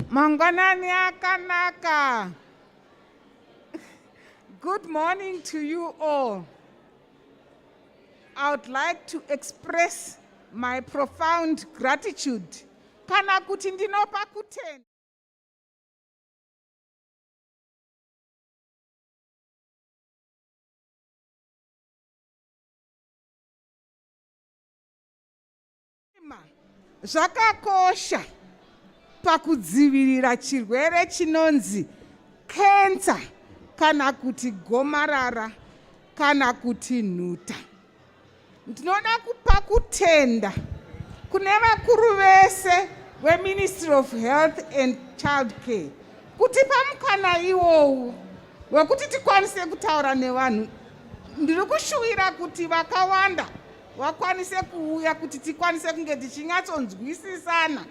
Mangwanani akanaka. Good morning to you all. I would like to express my profound gratitude. Kana kuti ndinopa kutenda. zvakakosha pakudzivirira chirwere chinonzi kensa kana kuti gomarara kana kuti nhuta Ndinoda kupa kutenda kune vakuru vese veMinistry of Health and Child Care kutipa mukana iwowu wekuti tikwanise kutaura nevanhu. Ndiri kushuwira kuti vakawanda vakwanise kuuya kuti tikwanise kunge tichinyatsonzwisisana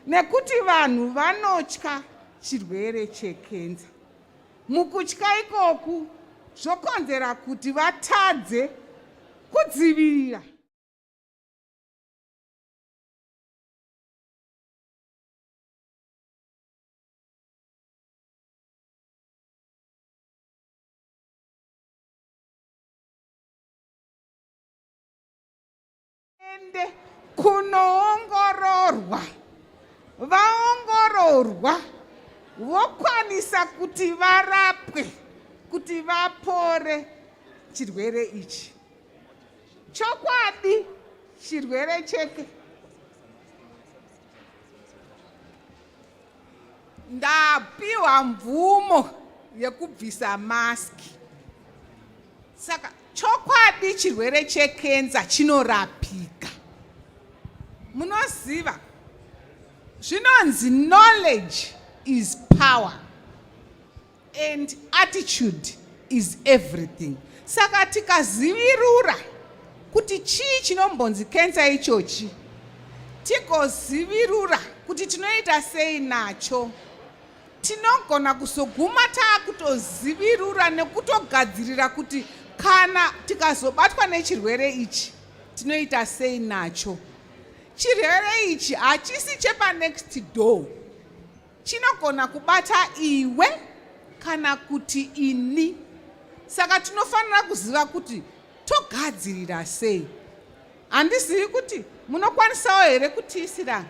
nekuti vanhu vanotya chirwere chekenza Mukutya ikoku zvokonzera kuti vatadze kudzivirira ende kunoongororwa vaongororwa vokwanisa kuti varapwe kuti vapore chirwere ichi chokwadi chirwere cheke ndapiwa mvumo yekubvisa maski saka chokwadi chirwere chekenza chinorapika munoziva zvinonzi knowledge is power and attitude is everything saka tikazivirura kuti chii chinombonzi kensa ichochi tigozivirura kuti tinoita sei nacho tinogona kuzoguma taakutozivirura nekutogadzirira kuti kana tikazobatwa nechirwere ichi tinoita sei nacho chirwere ichi hachisi chepanext door Chinogona kubata iwe kana kuti ini. Saka tinofanira kuziva kuti togadzirira sei. Handizivi kuti munokwanisawo here kutiisira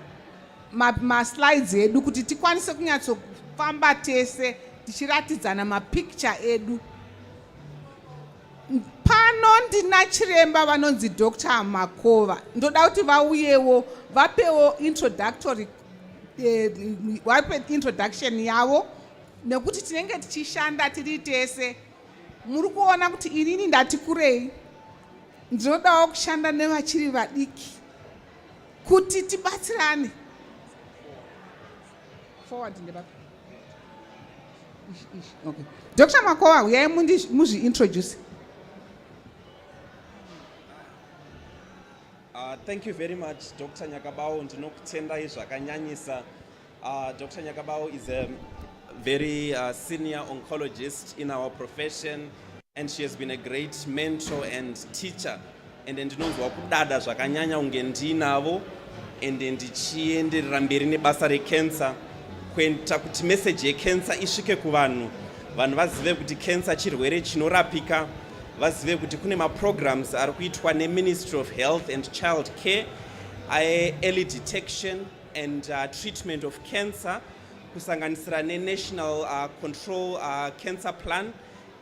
maslides ma edu kuti tikwanise kunyatsofamba tese tichiratidzana mapicture edu pano ndina chiremba vanonzi dr makova ndoda kuti vauyewo vapewo introductory wape eh, introduction yavo nekuti tinenge tichishanda tiri tese muri kuona kuti inini ndati kurei ndinodawo kushanda nevachiri vadiki kuti tibatsirane forward ndebapa okay. dr makowa huyai muzviintroduce Uh, thank you very much, Dr. Nyakabao. Ndinokutendai zvakanyanyisa. Uh, Dr. Nyakabao is a very uh, senior oncologist in our profession and she has been a great mentor and teacher and ndinonzwa kudada zvakanyanya kunge ndiinavo and ndichienderera mberi nebasa recancer kuita kuti message yecancer isvike kuvanhu vanhu vazive kuti cancer chirwere chinorapika vazive kuti kune maprograms ari kuitwa neministry of health and child care aearly detection and uh, treatment of cancer kusanganisira nenational uh, control uh, cancer plan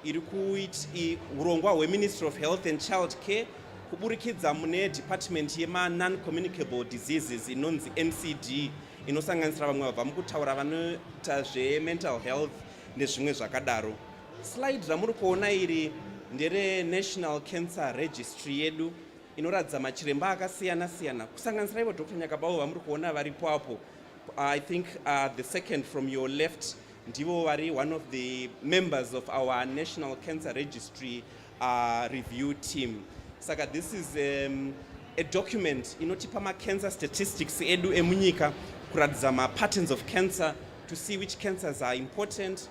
iri kuiti urongwa hweministry of health and child care kuburikidza mune department yemanon-communicable diseases inonzi ncd inosanganisira vamwe vabva mukutaura vanoita zvemental health nezvimwe zvakadaro Slide ramuri kuona iri ndere National Cancer Registry yedu inoratidza machiremba akasiyana siyana kusanganisira ivo Dr Nyakabawo vamuri kuona varipo apo I think uh, the second from your left ndivo vari one of the members of our National Cancer Registry uh, review team saka this is um, a document inotipa macancer statistics edu emunyika kuratidza mapatterns of cancer to see which cancers are important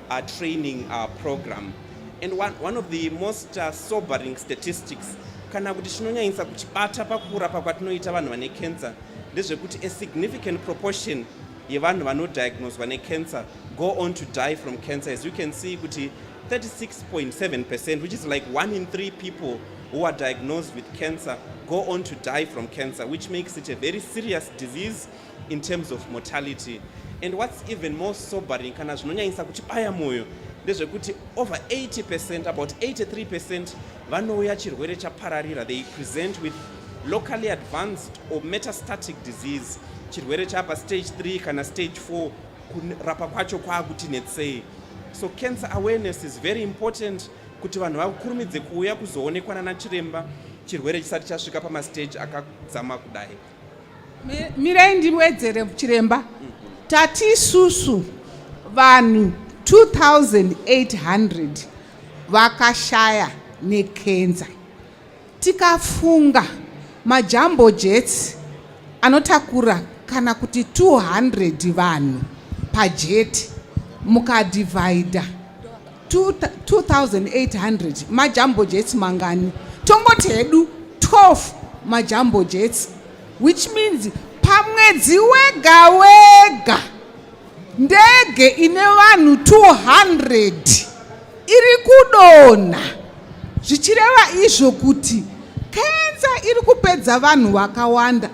a training uh, program and one, one of the most uh, sobering statistics kana kuti chinonyanyisa kuchibata pakurapa kwatinoita vanhu vane cancer ndezvekuti a significant proportion yevanhu vanodiagnoswa necancer go on to die from cancer as you can see kuti 36.7 percent which is like one in three people who are diagnosed with cancer go on to die from cancer which makes it a very serious disease in terms of mortality and what's even more sobering kana zvinonyanyisa kuti baya mwoyo ndezvekuti over 80 percent about 83 percent vanouya chirwere chapararira they present with locally advanced or metastatic disease chirwere chapa stage 3 kana stage 4 kurapa kwacho kwaakuti netsei so cancer awareness is very important kuti vanhu vakurumidze kuuya kuzoonekwa nana chiremba chirwere chisati chasvika pamastage akadzama kudai Mirei ndiwedzere chiremba. Tati isusu vanhu 2800 vakashaya nekenza. Tikafunga majambo jets anotakura kana kuti 200 vanhu pajeti mukadhivhaidha 2800 majambo jets mangani tongoti hedu 12 majambo jets which means pamwedzi wega wega ndege ine vanhu 200 iri kudonha zvichireva izvo kuti kenza iri kupedza vanhu vakawanda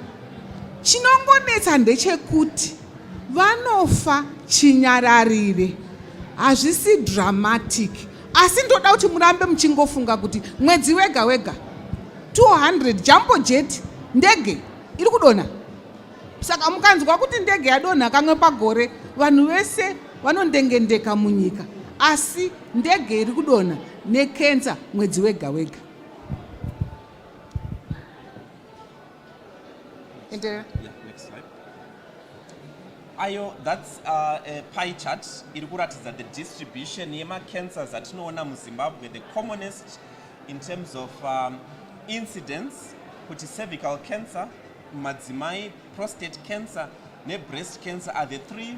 chinongonetsa ndechekuti Vanofa chinyararire. Hazvisi dramatic. Asi ndoda kuti murambe muchingofunga kuti mwedzi wega wega 200 jambo jet ndege iri kudonha. Saka mukanzwa kuti ndege yadonha kamwe pagore vanhu vese vanondengendeka munyika. Asi ndege iri kudonha nekensa mwedzi wega wega. enderera yeah, next slide ayo that's uh, a pie chart iri kuratidza the distribution yemacancers atinoona muzimbabwe the commonest in terms of um, incidence kuti cervical cancer madzimai prostate cancer nebreast cancer are the three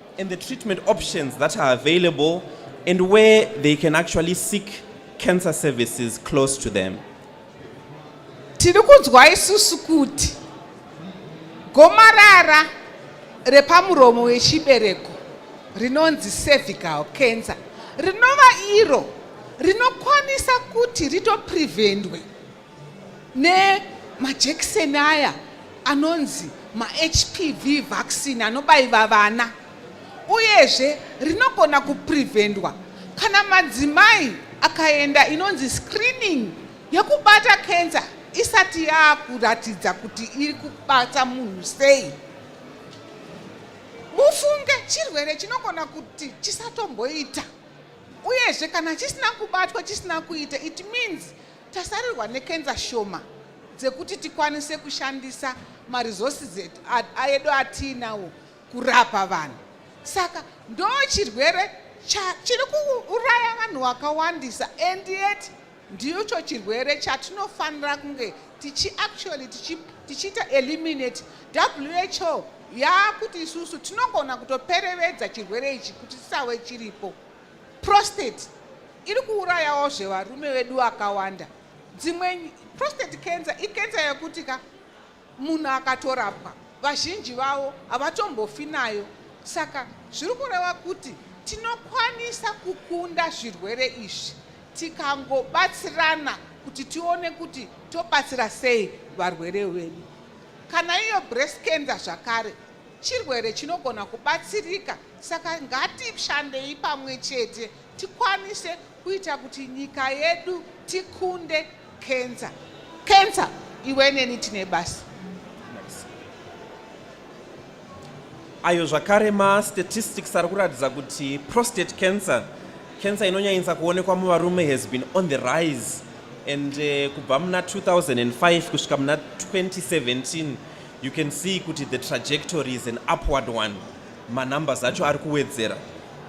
and the treatment options that are available and where they can actually seek cancer services close to them. Tiri kunzwa isusu kuti gomarara repamuromo wechibereko rinonzi cervical cancer rinova iro rinokwanisa kuti ritoprevendwe nemajekiseni aya anonzi mahpv vaccine anobaiva vana uyezve rinogona kuprevendwa kana madzimai akaenda inonzi screening yekubata cancer isati yaakuratidza kuti iri kubata munhu sei mufunge chirwere chinogona kuti chisatomboita uyezve kana chisina kubatwa chisina kuita it means Tasarirwa nekenza shoma dzekuti tikwanise kushandisa maresources edu atiinawo kurapa vanhu. Saka ndo chirwere chiri kuuraya vanhu vakawandisa and yet ndicho chirwere chatinofanira kunge tichi actually tichiita eliminate who yaakuti isusu tinogona kutoperevedza chirwere ichi kuti chisave chiripo prostate iri kuurayawo zvevarume vedu akawanda dzimwe prostate cancer ikensa yekuti ka munhu akatorapwa vazhinji vavo havatombofi nayo saka zviri kureva kuti tinokwanisa kukunda zvirwere izvi tikangobatsirana kuti tione kuti tobatsira sei varwere vedu kana iyo breast cancer zvakare chirwere chinogona kubatsirika saka ngatishandei pamwe chete tikwanise kuita kuti nyika yedu tikunde kenza kenza iwe neni tine basa ayo zvakare mastatistics ari kuratidza kuti prostate cancer cancer inonyanyisa kuonekwa muvarume has been on the rise and uh, kubva muna 2005 kusvika muna 2017 you can see kuti the trajectory is an upward one manumbers acho ari kuwedzera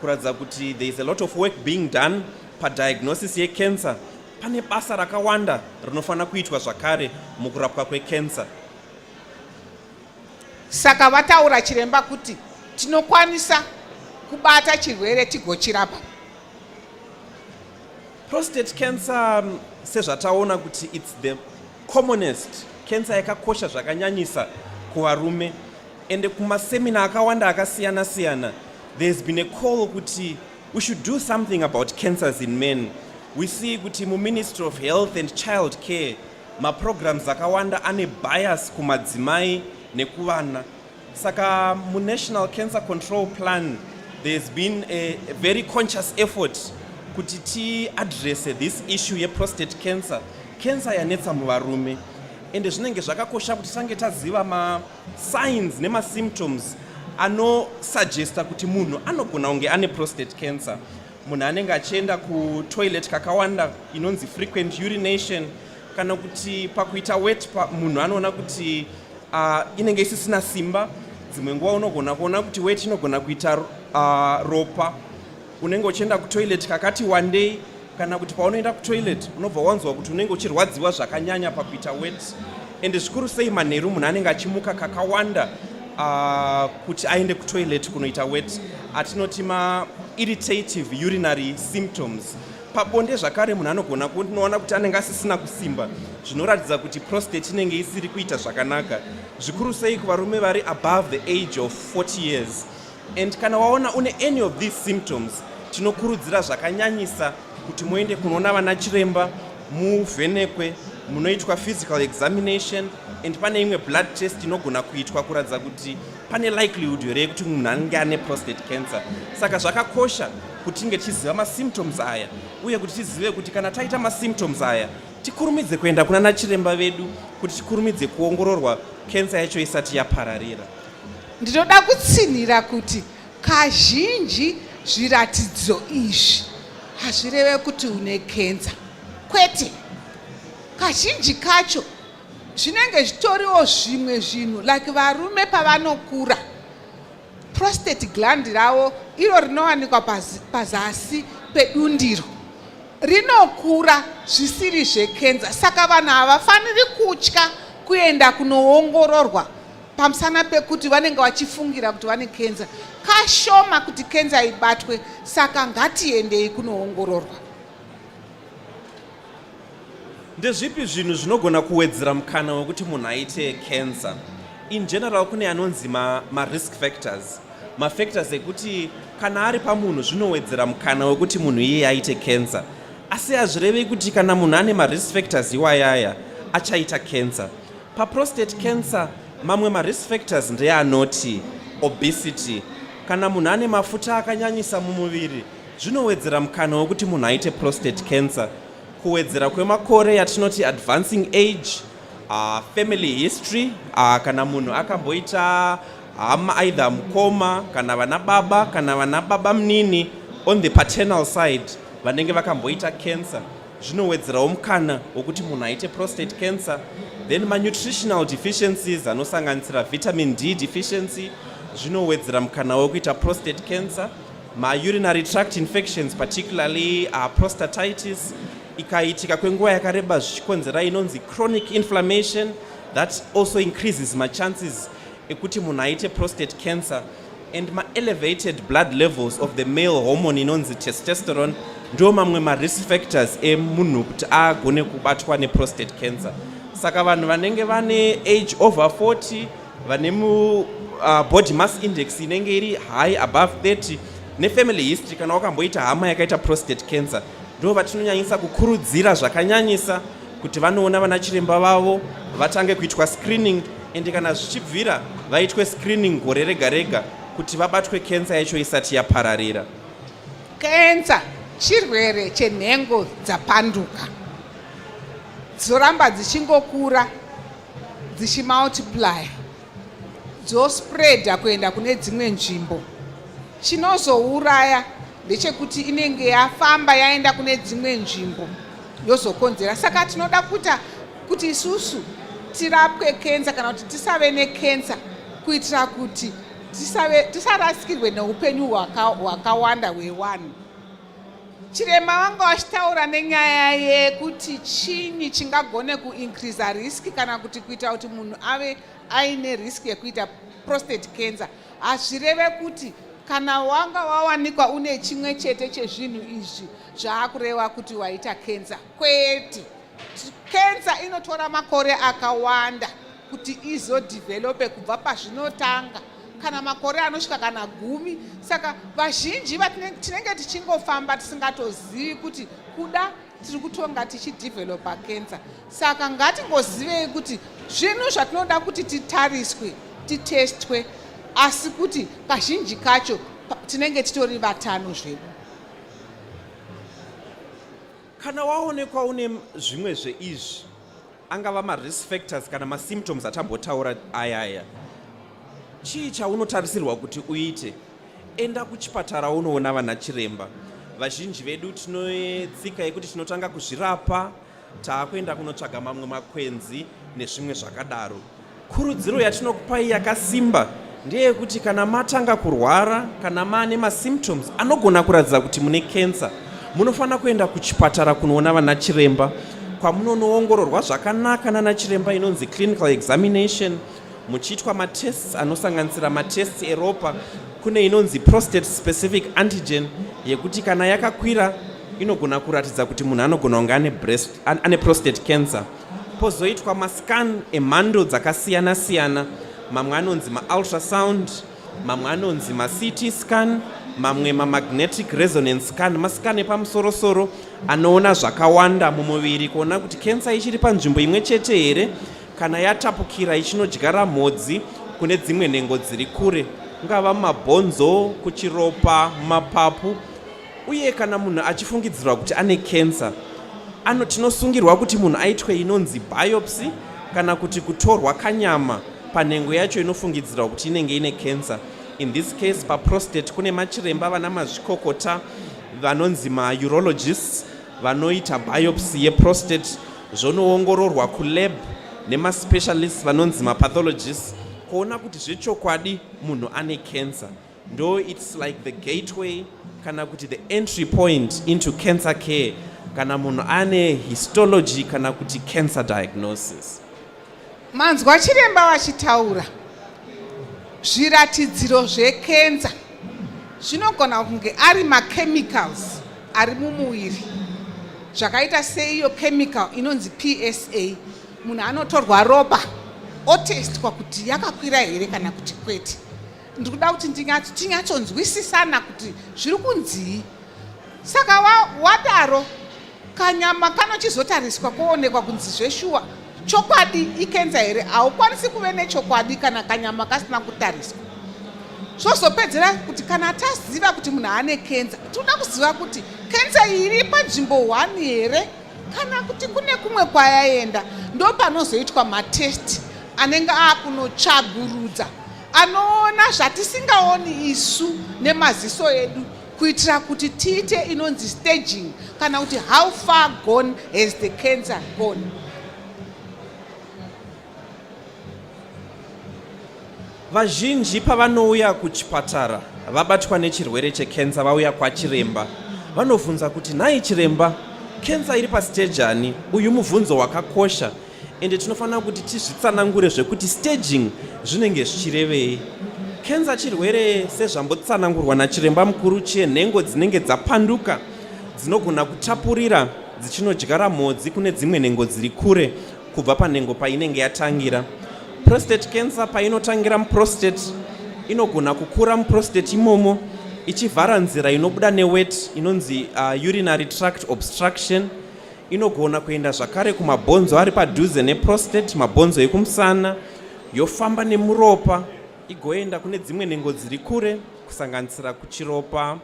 kuratidza kuti there is a lot of work being done padiagnosis yecancer pane basa rakawanda rinofanira kuitwa zvakare mukurapwa kwecancer saka vataura chiremba kuti tinokwanisa kubata chirwere tigochirapa prostate cancer um, sezvataona kuti its the Commonest cancer yakakosha zvakanyanyisa kuvarume ende kumasemina akawanda akasiyana siyana there has been a call kuti we should do something about cancers in men we see kuti muministry of health and child care maprograms akawanda ane bias kumadzimai nekuvana Saka muNational Cancer Control Plan there's been a very conscious effort kuti tiadresse this issue yeprostate cancer cancer yanetsa muvarume ende zvinenge zvakakosha kuti tisange taziva masigns nemasymptoms anosuggesta kuti munhu anogona kunge ane prostate cancer munhu anenge achienda kutoilet kakawanda inonzi frequent urination kana kuti pakuita wet munhu anoona kuti uh, inenge isisina simba dzimwe nguva unogona kuona kuti weti inogona kuita uh, ropa unenge uchienda kutoilet kakati wandei kana kuti paunoenda kutoilet unobva wanzwa kuti unenge uchirwadziwa zvakanyanya pakuita wet ende zvikuru sei manheru munhu anenge achimuka kakawanda uh, kuti aende kutoilet kunoita wet atinoti mairritative urinary symptoms Pabonde zvakare munhu anogona kunoona kuti anenge asisina kusimba zvinoratidza kuti prostate inenge isiri kuita zvakanaka zvikuru sei kuvarume vari above the age of 40 years and kana waona une any of these symptoms tinokurudzira zvakanyanyisa kuti muende kunoona vana chiremba muvhenekwe munoitwa physical examination and pane imwe blood test inogona kuitwa kuratidza kuti pane likelihood here yekuti munhu anenge ane prostate cancer saka zvakakosha kuti tinge tichiziva masymptoms aya uye kuti tizive kuti kana taita masymptoms aya tikurumidze kuenda kuna nachiremba vedu kuti tikurumidze kuongororwa kensa yacho isati yapararira ndinoda kutsinhira kuti kazhinji zviratidzo izvi hazvireve kuti une kensa kwete kazhinji kacho zvinenge zvitoriwo zvimwe zvinhu like varume pavanokura prostate gland ravo iro rinowanikwa pazasi pedundiro rinokura zvisiri zvekenza saka vanhu havafaniri kutya kuenda kunoongororwa pamusana pekuti vanenge vachifungira kuti vane kenza kashoma kuti kenza ibatwe saka ngatiendei kunoongororwa Ndezvipi zvinhu zvinogona kuwedzera mukana wekuti munhu aite cancer? In general kune anonzi ma, ma risk factors mafactors ekuti kana ari pamunhu zvinowedzera mukana wekuti munhu iye aite cancer asi hazvirevi kuti kana munhu ane marisk factors iwayaya achaita cancer paprostate cancer mamwe marisk factors ndeanoti obesity kana munhu ane mafuta akanyanyisa mumuviri Zvinowedzera mukana wekuti munhu aite prostate cancer. Kuwedzera kwemakore yatinoti advancing age, uh, family history, uh, kana munhu akamboita hama aidha mukoma kana vana baba kana vana baba munini on the paternal side vanenge vakamboita cancer zvinowedzerawo mukana wekuti munhu aite prostate cancer then manutritional deficiencies anosanganisira vitamin d deficiency zvinowedzera mukana wekuita prostate cancer Maurinary tract infections particularly uh, prostatitis ikaitika kwenguva yakareba zvichikonzera inonzi chronic inflammation that also increases machances ekuti munhu aite prostate cancer and maelevated blood levels of the male hormone inonzi testosterone ndo mamwe marisk factors emunhu kuti agone kubatwa neprostate cancer saka vanhu vanenge vane age over 40 vane mu uh, body mass index inenge iri high above 30 nefamily history kana wakamboita hama yakaita prostate cancer ndo vatinonyanyisa kukurudzira zvakanyanyisa kuti vanoona vana chiremba vavo vatange kuitwa screening ende kana zvichibvira vaitwe screening gore rega rega kuti vabatwe kensa yacho isati yapararira kensa chirwere chenhengo dzapanduka dzoramba dzichingokura dzichimultiplier dzospreader kuenda kune dzimwe nzvimbo chinozouraya ndechekuti inenge yafamba yaenda kune dzimwe nzvimbo yozokonzera saka tinoda kuita kuti isusu tirapwe kensa kana kuti tisave nekensa kuitira kuti tisarasikirwe neupenyu hwakawanda hwewanhu Chirema vanga vachitaura nenyaya yekuti chinyi chingagone kuincreasa risk kana kuti kuita kuti munhu ave aine risk yekuita prostate cancer hazvireve kuti kana wanga wawanikwa une chimwe chete chezvinhu izvi zvaakureva kuti waita cancer kwete cancer inotora makore akawanda kuti izodhivhelope kubva pazvinotanga kana makore anosvika kana gumi saka vazhinji tinenge tichingofamba tisingatozivi kuti kuda tiri kutonga tichidhivhelopa kensa saka ngatingozivei kuti zvinhu zvatinoda kuti titariswe titestwe asi kuti kazhinji kacho tinenge titori vatano zvedu kana waonekwa une zvimwe zveizvi angava marisk factors kana masymptoms atambotaura aya aya chii chaunotarisirwa kuti uite enda kuchipatara unoona vana chiremba vazhinji vedu tinoetsika yekuti tinotanga kuzvirapa taakuenda kunotsvaga mamwe makwenzi nezvimwe zvakadaro Kurudziro yatinokupai yakasimba ndeyekuti kana matanga kurwara kana maane masymptoms anogona kuratidza kuti mune kensa munofanira kuenda kuchipatara kunoona vana chiremba kwamunonoongororwa zvakanaka nana chiremba inonzi clinical examination muchiitwa matests anosanganisira matests eropa kune inonzi prostate specific antigen yekuti kana yakakwira inogona kuratidza kuti munhu anogona kunge ane breast ane prostate cancer pozoitwa mascan emhando dzakasiyana siyana mamwe anonzi maultrasound mamwe anonzi macity scan mamwe mamagnetic resonance scan mascan epamusorosoro anoona zvakawanda mumuviri kuona kuti kensa ichiri panzvimbo imwe chete here kana yatapukira ichinodyara mhodzi kune dzimwe nhengo dziri kure kungava mumabhonzo kuchiropa mumapapu uye kana munhu achifungidzirwa kuti ane cancer ano tinosungirwa kuti munhu aitwe inonzi biopsy kana kuti kutorwa kanyama panhengo yacho inofungidzirwa kuti inenge ine cancer in this case paprostate kune machiremba vana mazvikokota vanonzi maurologists vanoita biopsy yeprostate zvonoongororwa kulab nemaspecialist vanonzi mapathologists kuona kuti zvechokwadi munhu ane cancer ndo its like the gateway kana kuti the entry point into cancer care kana munhu ane histology kana kuti cancer diagnosis manzwa chiremba vachitaura zviratidziro zvekenza zvinogona kunge ari machemicals ari mumuviri zvakaita seiyo chemical inonzi psa munhu anotorwa ropa otestwa kuti yakakwira here kana kuti kwete ndiri kuda kuti tinyatsonzwisisana kuti zviri kunzii saka wadaro wa kanyama kanochizotariswa koonekwa kunzi zveshuwa chokwadi ikenza here haukwanisi kuve nechokwadi kana kanyama kasina kutariswa zvozopedzera kuti kana taziva kuti munhu aane kenza tinoda kuziva kuti kenza iri panzvimbo one here kana kuti kune kumwe kwayaenda ndo panozoitwa matesti anenge akunotsvagurudza Anoona zvatisingaoni isu nemaziso edu kuitira kuti tiite inonzi staging kana kuti how far gone has the cancer gone. Vazhinji pavanouya kuchipatara vabatwa nechirwere chekensa vauya kwachiremba vanobvunza kuti nhai chiremba kensa iri pasiteji ani? Uyu mubvunzo wakakosha ende tinofanira kuti tizvitsanangure zvekuti staging zvinenge zvichirevei kenza chirwere sezvambotsanangurwa nachiremba mukuru chenhengo dzinenge dzapanduka dzinogona kutapurira dzichinodyara mhodzi kune dzimwe nhengo dziri kure kubva panhengo painenge yatangira prostate cancer painotangira muprostate inogona kukura muprostate imomo ichivhara nzira inobuda newet inonzi uh, urinary tract obstruction inogona kuenda zvakare kumabhonzo ari padhuze neprostate mabhonzo ekumusana yofamba nemuropa igoenda kune dzimwe nhengo dziri kure kusanganisira kuchiropa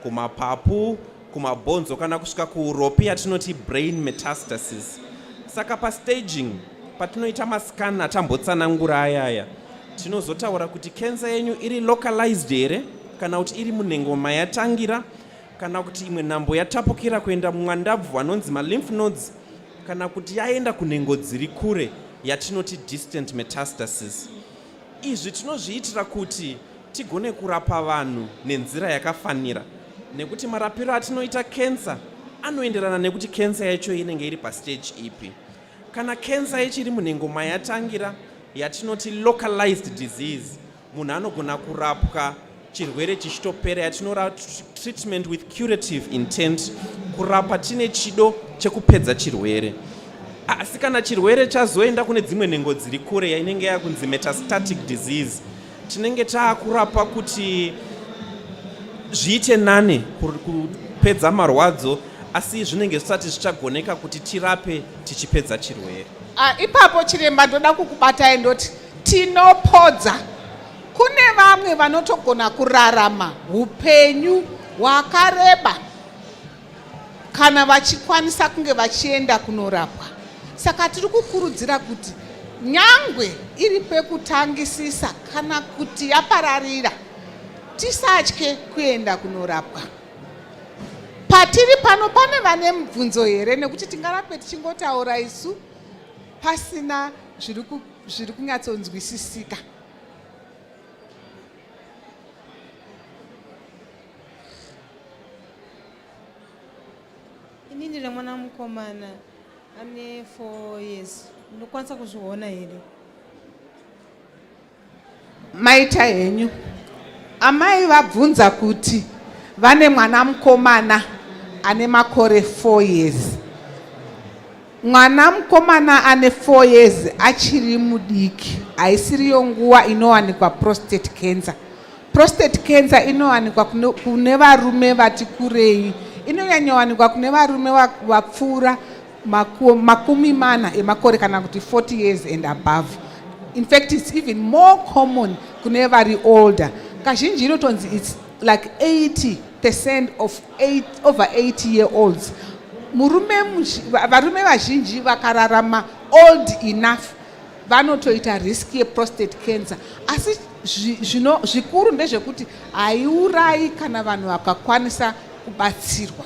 kumapapu kumabhonzo kana kusvika kuuropi yatinoti brain metastasis saka pastaging patinoita mascan atambotsanangura ayaya tinozotaura kuti kensa yenyu iri localized here kana kuti iri munhengo mayatangira kana kuti imwe nhambo yatapukira kuenda mumwandabvu anonzi malymph nodes kana kuti yaenda kunhengo dziri kure yatinoti distant metastasis izvi tinozviitira kuti tigone kurapa vanhu nenzira yakafanira nekuti marapiro atinoita kensa anoenderana nekuti kensa yacho inenge iri pasteji ipi kana kensa ichiri munhengo mayatangira yatinoti localized disease munhu anogona kurapwa chirwere chichitopera yatinora treatment with curative intent kurapa tine chido chekupedza chirwere asi kana chirwere chazoenda kune dzimwe nhengo dziri kure yainenge yakunzi metastatic disease tinenge taakurapa kuti zviite nane kupedza marwadzo asi zvinenge zvisati zvichagoneka kuti tirape tichipedza chirwere ah, ipapo chiremba ndoda kukubatai ndoti Tinopodza. Kune vamwe vanotogona kurarama upenyu hwakareba kana vachikwanisa kunge vachienda kunorapwa. Saka tiri kukurudzira kuti nyangwe iri pekutangisisa kana kuti yapararira tisatye kuenda kunorapwa patiri pano pane vane mubvunzo here nekuti tingarape tichingotaura isu pasina zviri zviri kunyatsonzwisisika ini ndine mwana mukomana ane four years ndinokwanisa kuzviona here Maita henyu. Amai vabvunza kuti vane mwana mukomana ane makore 4 years. Mwana mukomana ane 4 years achiri mudiki haisiriyo nguva inowanikwa prostate cancer. Prostate cancer inowanikwa kune varume vati kurei. Inonyanyowanikwa kune varume vapfuura makumi mana emakore kana kuti 40 years and above in fact it's even more common kune vari older kazhinji inotonzi its like 80 percent of eight, over 80 year olds murume varume vazhinji vakararama old enough vanotoita risk yeprostate cancer asi zvino zvikuru ndezvekuti haiurayi kana vanhu vakakwanisa kubatsirwa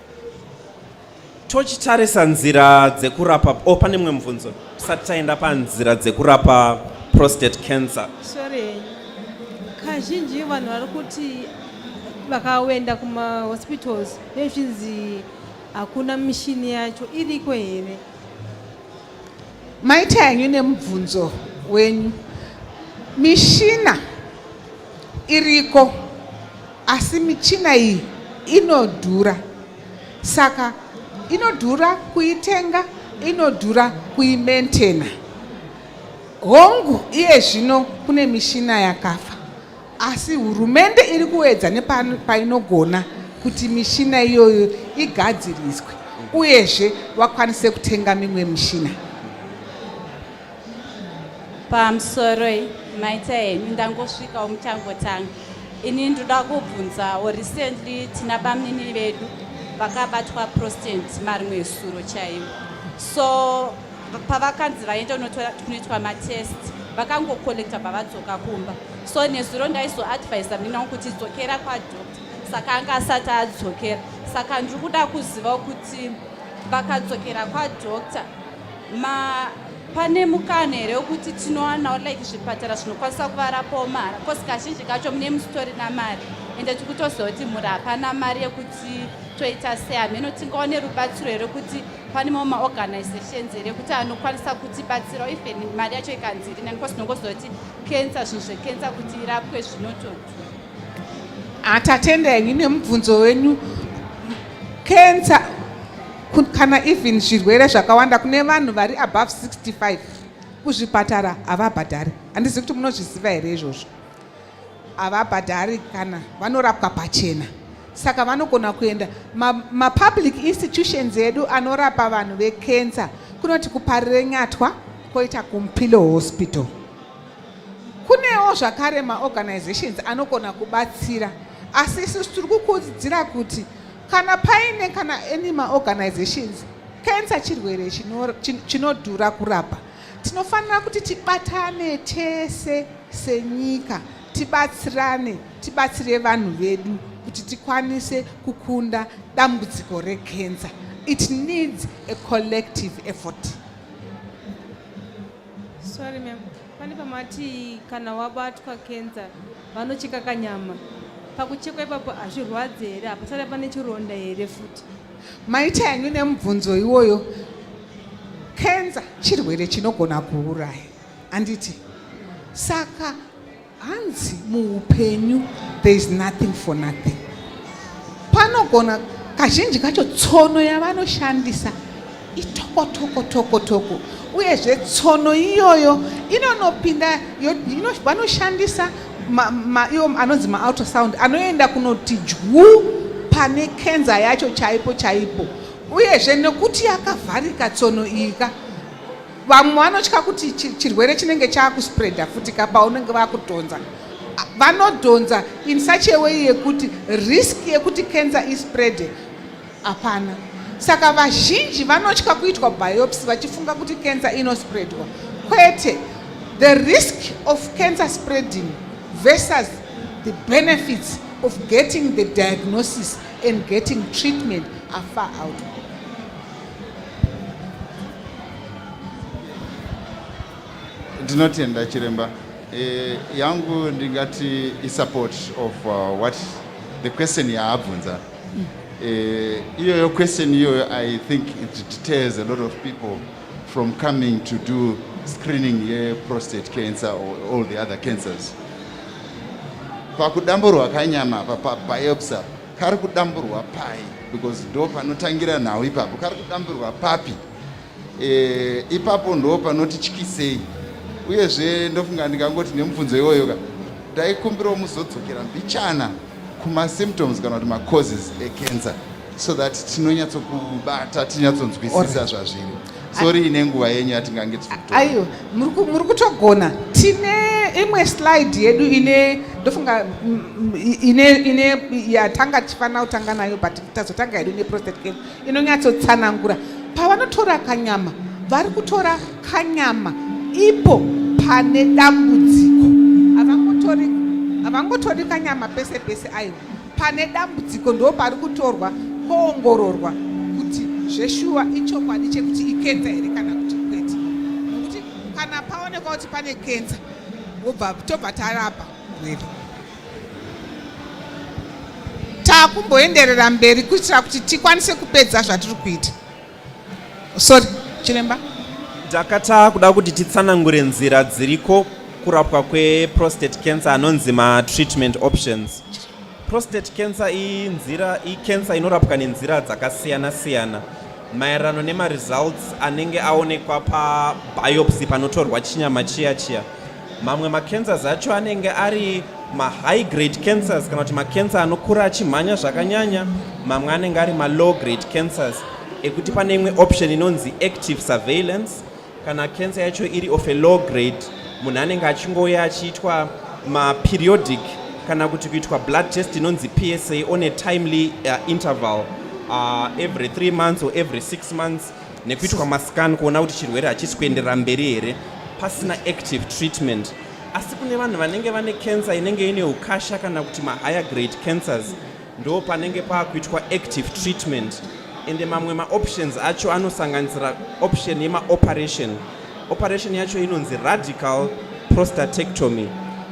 Tochitarisa nzira dzekurapa oh, pane mumwe mubvunzo tisati taenda panzira dzekurapa prostate cancer. Sorry, kazhinji vanhu vari kuti vakaenda kumahospitals vezvinzi hakuna mishini yacho iriko here maita yanyu nemubvunzo wenyu mishina iriko Asi michina iyi inodhura saka inodhura kuitenga inodhura kuimentena hongu iye zvino kune mishina yakafa asi hurumende iri kuedza nepainogona kuti mishina iyoyo igadziriswe uyezve vakwanise kutenga mimwe mishina pamusoroi maita henyu ndangosvikawo muchangotanga ini ndoda kubvunzawo recently tina bamnini vedu vakabatwa prostant marimwe esuro chaivo so pavakanzi vaenda kunoitwa matest vakangocollecta bavadzoka kumba so nezuro ndaizoadvisa mnina wangu kuti dzokera kwadoctor saka anga asati adzokera saka ndiri kuda kuzivawo kuti vakadzokera kwadoctor ma pane mukana here wekuti tinowanawo like zvipatara zvinokwanisa kuvarapawo mahara bcause kazhinji kacho mune musitori namari ende tiri kutoziva kuti mhuri hapana mari yekuti toita sei hameno tingaone rubatsiro here kuti pane mamwe maorganizations here kuti anokwanisa kutibatsirawo even mari yacho ikanzi irinani bcause tinongoziva kuti kensa zvinhu zvekensa kuti irapwe zvinototi Ah, tatenda henyu nemubvunzo wenyu cancer kana even zvirwere zvakawanda kune vanhu vari above 65 kuzvipatara havabhadhari handizivi kuti munozviziva here izvozvo havabhadhari kana vanorapwa pachena saka vanogona kuenda mapublic ma institutions edu anorapa vanhu vecancer kunoti kuparire nyatwa koita kumpilo hospital Kunewo zvakare maorganizations anogona kubatsira asi isu tiri kukurudzira kuti kana paine kana any maorganizations kensa chirwere chinodhura kurapa tinofanira kuti tibatane tese senyika tibatsirane tibatsire vanhu vedu kuti tikwanise kukunda dambudziko rekensa it needs a collective effort Sorry ma'am. Pane pamati kana wabatwa cancer vanocheka kanyama. Pakuchekwa ipapo hazvirwadze here? Hapasare pane chironda here futi? Maita yanyu nemubvunzo iwoyo. Cancer chirwere chinogona kuuraya. Anditi? Saka Hanzi muupenyu there is nothing for nothing. Panogona kazhinji kacho tsono yavanoshandisa itokotokotokotoko uyezve tsono iyoyo inonopinda vanoshandisa iwo anonzi maultrasound anoenda kunoti dyu pane kenza yacho chaipo chaipo uyezve nekuti yakavharika tsono iyika vamwe vanotya kuti chirwere chinenge chaakuspreada futi ka paunenge vakudhonza vanodhonza in such a way yekuti risk yekuti cancer ispreade hapana saka vazhinji vanotya kuitwa biopsy vachifunga kuti cancer inospreadwa kwete the risk of cancer spreading versus the benefits of getting the diagnosis and getting treatment are far out Ndinotenda chiremba. E, yangu ndingati isupport of uh, what the question yaabvunza mm. e, iyoyo question iyoyo i think it deters a lot of people from coming to do screening yeprostate cancer or all the other cancers pakudamburwa kanyama apa pabiopsy kari kudamburwa pai because ndo panotangira nhau ipapo kari kudamburwa papi e, ipapo ndo panoti tyisei uyezve ndofunga ndikangoti nemubvunzo iwoyo ka ndaikumbirawo muzodzokera mbichana kumasymptoms kana kuti macauses ecancer so that tinonyatsokubata tinyatsonzwisisa zvazviri sorry ine nguva yenyu yatingange aiwa muri kutogona tine imwe slide yedu ine ndofunga mm, mm, ine ine yatanga tichifanira kutanga nayo but tazotanga yedu ine prostate cancer inonyatsotsanangura pavanotora kanyama vari kutora kanyama ipo pane dambudziko havangotori kanyama pese pese aiwa Pane dambudziko ndo pari kutorwa poongororwa kuti zveshuwa ichokwadi chekuti ikenza here kana kuti kwete. Nokuti kana paonekwa kuti pane kenza wobva tobva tarapa murwere. Takumboenderera mberi kuitira kuti tikwanise kupedza zvatiri kuita. Sorry, chiremba. Ndakata kuda kuti titsanangure nzira dziriko kurapwa kweprostate cancer anonzi matreatment options. Prostate cancer inzira icancer inorapwa nenzira dzakasiyana siyana maererano nemaresults anenge aonekwa pabiopsy panotorwa chinyama chiya chiya. mamwe macancers acho anenge ari mahigh grade cancers kana kuti macancer anokura achimhanya zvakanyanya mamwe anenge ari malow grade cancers ekuti pane imwe option inonzi active surveillance kana cancer yacho iri of a low grade munhu anenge achingouya achiitwa maperiodic kana kuti kuitwa blood test inonzi psa on a timely uh, interval uh, every three months or every six months nekuitwa mascan kuona kuti chirwere hachisi kuenderera mberi here pasina active treatment asi kune vanhu vanenge vane cancer inenge ine ukasha kana kuti mahigher grade cancers ndo panenge paakuitwa active treatment ende mamwe maoptions acho anosanganisira option yemaoperation operation yacho inonzi radical prostatectomy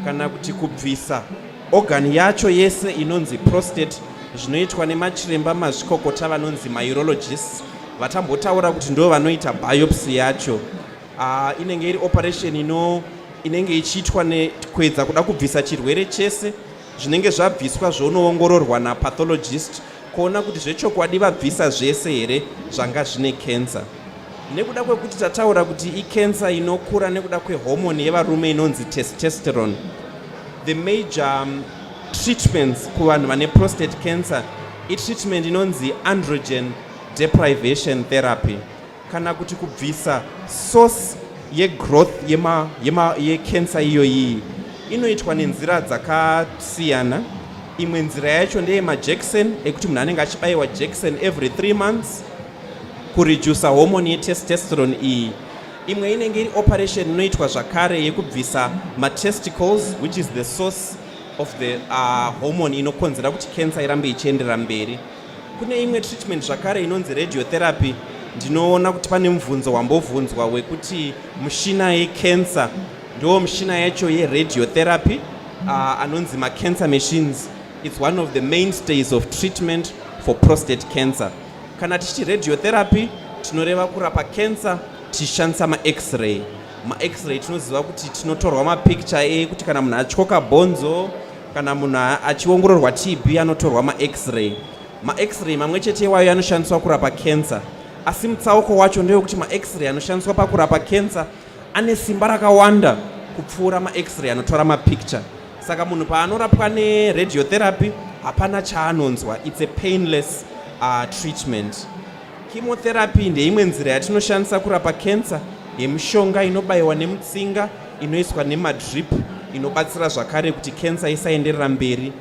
kana kuti kubvisa Organ yacho yese inonzi prostate zvinoitwa nemachiremba mazvikokota vanonzi maurologists vatambotaura kuti ndo vanoita biopsy yacho uh, inenge iri operation ino inenge ichiitwa nekuedza kuda kubvisa chirwere chese zvinenge zvabviswa zvonoongororwa napathologist kuona kuti zvechokwadi vabvisa zvese here zvanga zvine cancer nekuda kwekuti tataura kuti icancer inokura nekuda kwehomoni yevarume inonzi testosterone the major um, treatments kuvanhu vane prostate cancer itreatment inonzi androgen deprivation therapy kana kuti kubvisa source yegrowth yema, yema, yecancer iyoyi inoitwa nenzira dzakasiyana imwe nzira yacho ndeye majekiseni ekuti munhu anenge achibayiwa jekiseni every three months kuredusa homoni yetestosterone iyi imwe inenge iri operation inoitwa zvakare yekubvisa matesticles which is the source of the uh, homoni inokonzera kuti cancer irambe ichienderera mberi Kune imwe treatment zvakare inonzi radiotherapy ndinoona kuti pane mubvunzo wambovhunzwa wekuti mushina yecancer ndo mushina yacho yeradiotherapy uh, anonzi macancer machines its one of the mainstays of treatment for prostate cancer kana tichiti radiotherapy tinoreva kurapa cancer tichishandisa max-ray max-ray tinoziva kuti tinotorwa mapicture ekuti kana munhu atyoka bhonzo Kana munhu achiongororwa TB anotorwa maX-ray. MaX-ray mamwe chete iwayo anoshandiswa kurapa cancer. Asi mutsauko wacho ndewekuti maX-ray anoshandiswa pakurapa cancer ane simba rakawanda kupfuura maX-ray anotora mapicture. Saka munhu paanorapwa neradiotherapy hapana chaanonzwa. It's a painless uh, treatment. Chemotherapy ndeimwe nzira yatinoshandisa kurapa kensa yemushonga inobayiwa nemutsinga inoiswa nemadrip inobatsira zvakare kuti kensa isaenderera mberi.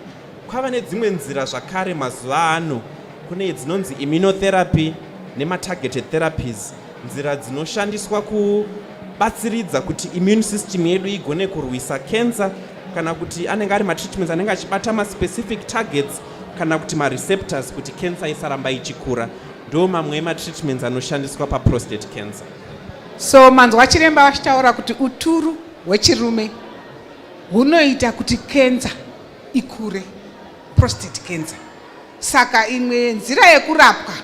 Kwava nedzimwe nzira zvakare mazuva ano kune dzinonzi immunotherapy nematargeted therapies nzira dzinoshandiswa kubatsiridza kuti immune system yedu igone kurwisa kensa kana kuti anenge ari matreatments anenge achibata maspecific targets kana kuti mareceptors kuti cancer isaramba ichikura ndo mamwe ematreatments anoshandiswa paprostate cancer so manzwa chiremba vachitaura kuti uturu hwechirume hunoita kuti kenza ikure prostate cancer saka imwe yenzira yekurapwa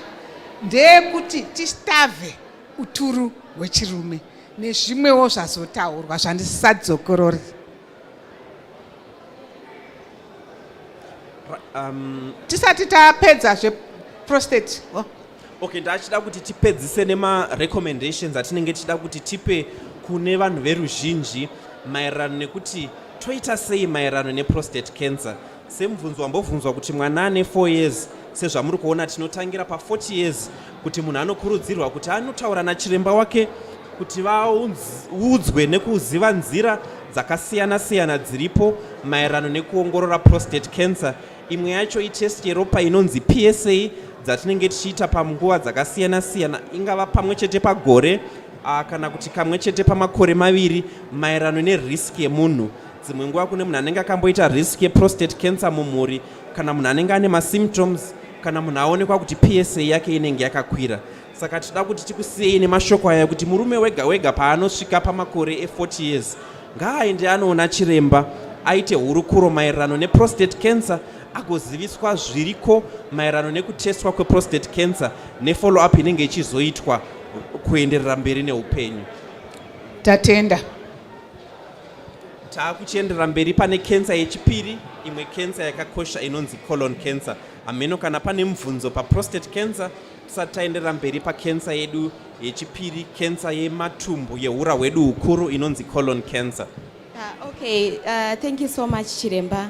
ndeyekuti tistave uturu hwechirume nezvimwewo zvazotaurwa zvandisisadzokorori Um, tisati tapedza zveprostate oh. okay ndachida kuti tipedzise nemarecommendations atinenge tichida kuti tipe kune vanhu veruzhinji maererano nekuti toita sei maererano neprostate cancer Semubvunzo wambobvunzwa kuti mwana ane 4 years sezvamuri kuona tinotangira pa 40 years kuti munhu anokurudzirwa kuti anotaura nachiremba wake kuti vaudzwe nekuziva nzira dzakasiyana siyana dziripo maererano nekuongorora prostate cancer imwe yacho itest yeropa inonzi psa dzatinenge tichiita panguva dzakasiyana siyana ingava pamwe chete pagore ah, kana kuti kamwe chete pamakore maviri maererano nerisk yemunhu dzimwe nguva kune munhu anenge akamboita risk yeprostate cancer mumhuri kana munhu anenge ane masymptoms kana munhu aonekwa kuti psa yake inenge yakakwira saka tinoda kuti tikusiyei nemashoko aya kuti murume wega wega paanosvika pamakore e40 years ngaaende anoona chiremba aite hurukuro maererano neprostate cancer agoziviswa zviriko maererano nekutestwa kweprostate cancer nefollow up inenge ichizoitwa kuenderera mberi neupenyu tatenda taakuchiendera mberi pane kensa yechipiri imwe kensa yakakosha inonzi colon cancer hameno kana pane mubvunzo paprostate cancer tisati taenderera mberi pakensa yedu yechipiri kensa yematumbu yeura hwedu hukuru inonzi colon cancer uh, okay uh, thank you so much chiremba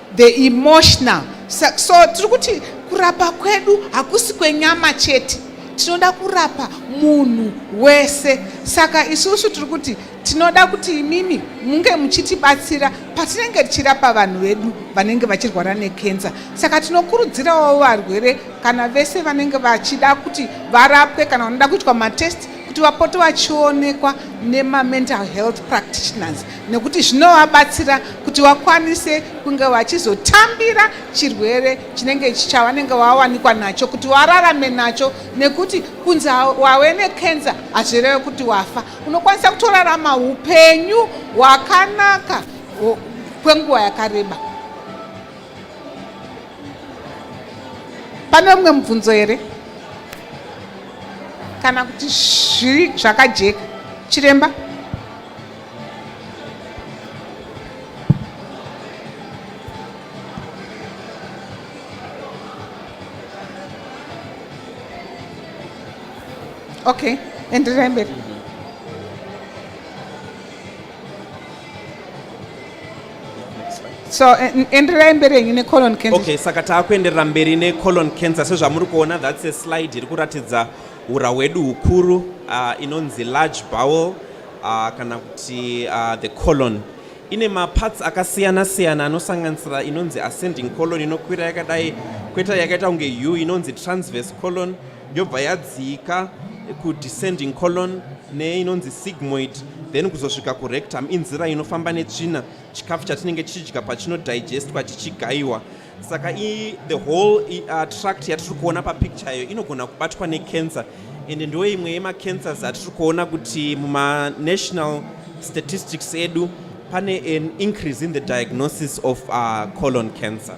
the emotional so, so tiri kuti kurapa kwedu hakusi kwenyama chete tinoda kurapa munhu wese saka isusu tiri kuti tinoda kuti imimi munge muchitibatsira patinenge tichirapa vanhu vedu vanenge vachirwara nekensa saka tinokurudzirawo varwere kana vese vanenge vachida kuti varapwe kana vanoda kuitwa matest kuti vapote vachionekwa nemamental health practitioners nekuti zvinovabatsira kuti vakwanise kunge vachizotambira chirwere chinenge chavanenge vawanikwa nacho kuti vararame nacho nekuti kunzi wave nekenza hazvireve kuti wafa unokwanisa kutorarama upenyu hwakanaka kwenguva yakareba pane umwe mubvunzo here kana kuti zviri zvakajeka chiremba Okay, endelee mbele. so eh, endererai mberi henyu necolon cancer okay saka taakuenderera mberi necolon cancer sezvamuri kuona that's a slide iri kuratidza Hura hwedu hukuru uh, inonzi large bowel uh, kana kuti uh, the colon ine maparts akasiyana siyana anosanganisira inonzi ascending colon inokwira yakadai kweta yakaita kunge u inonzi transverse colon yobva yadzika kudescending colon neinonzi sigmoid then kuzosvika kurectum inzira inofamba netsvina chikafu chatinenge tichidya pachinodigestwa chichigaiwa chika saka i the whole uh, tract yatiri kuona papicture iyo inogona kubatwa necancer ende ndo imwe yemacancers atiri kuona kuti mumanational statistics edu pane an increase in the diagnosis of uh, colon cancer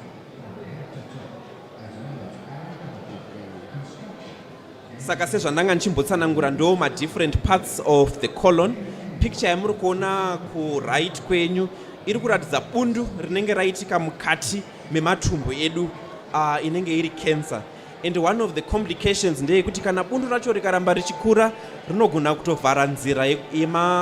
saka sezvandanga ndichimbotsanangura ndo madifferent parts of the colon picture yamuri kuona kuright kwenyu iri kuratidza bundu rinenge raitika mukati mematumbu edu uh, inenge iri cancer and one of the complications ndeyekuti kana bundu racho rikaramba richikura rinogona kutovhara nzira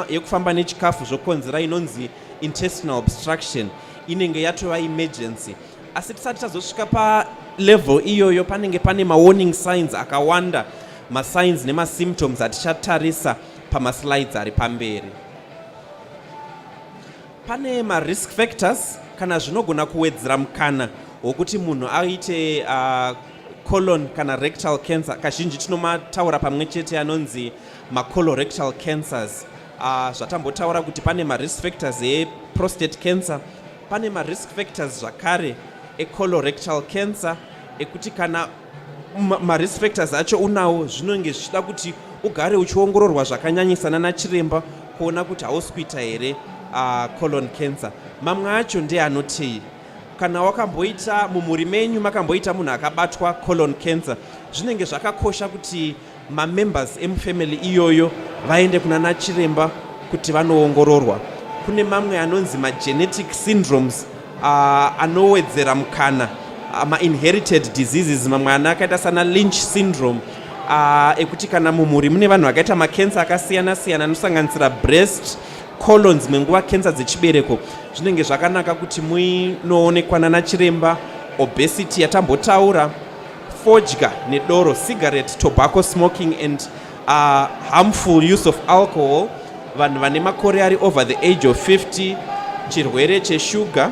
yekufamba nechikafu zvokonzera inonzi intestinal obstruction inenge yatova emergency asi tisati tazosvika palevel iyoyo panenge pane mawarning signs akawanda masigns nemasymptoms atichatarisa pamaslides ari pamberi pane marisk factors kana zvinogona kuwedzera mukana wokuti munhu aite uh, colon kana rectal cancer kazhinji tinomataura pamwe chete anonzi macolorectal cancers uh, zvatambotaura kuti pane marisk factors eprostate cancer Pane marisk factors zvakare ecolorectal cancer ekuti kana marisk factors acho unawo zvinonge zvichida kuti ugare uchiongororwa zvakanyanyisa nana chiremba kuona kuti hausi kuita here uh, colon cancer mamwe acho ndeanotei kana wakamboita mumhuri menyu makamboita munhu akabatwa colon cancer zvinenge zvakakosha kuti mamembers emufamily iyoyo vaende kuna nachiremba kuti vanoongororwa kune mamwe anonzi magenetic syndromes uh, anowedzera mukana uh, mainherited diseases mamwe ana akaita sana lynch syndrome uh, ekuti kana mumhuri mune vanhu vakaita makensa akasiyana siyana anosanganisira breast colon dzimwe nguva kensa dzechibereko zvinenge zvakanaka kuti muinoonekwa nana chiremba obesity yatambotaura fodya nedoro cigarette tobacco smoking and uh, harmful use of alcohol vanhu vane makore ari over the age of 50 chirwere cheshuga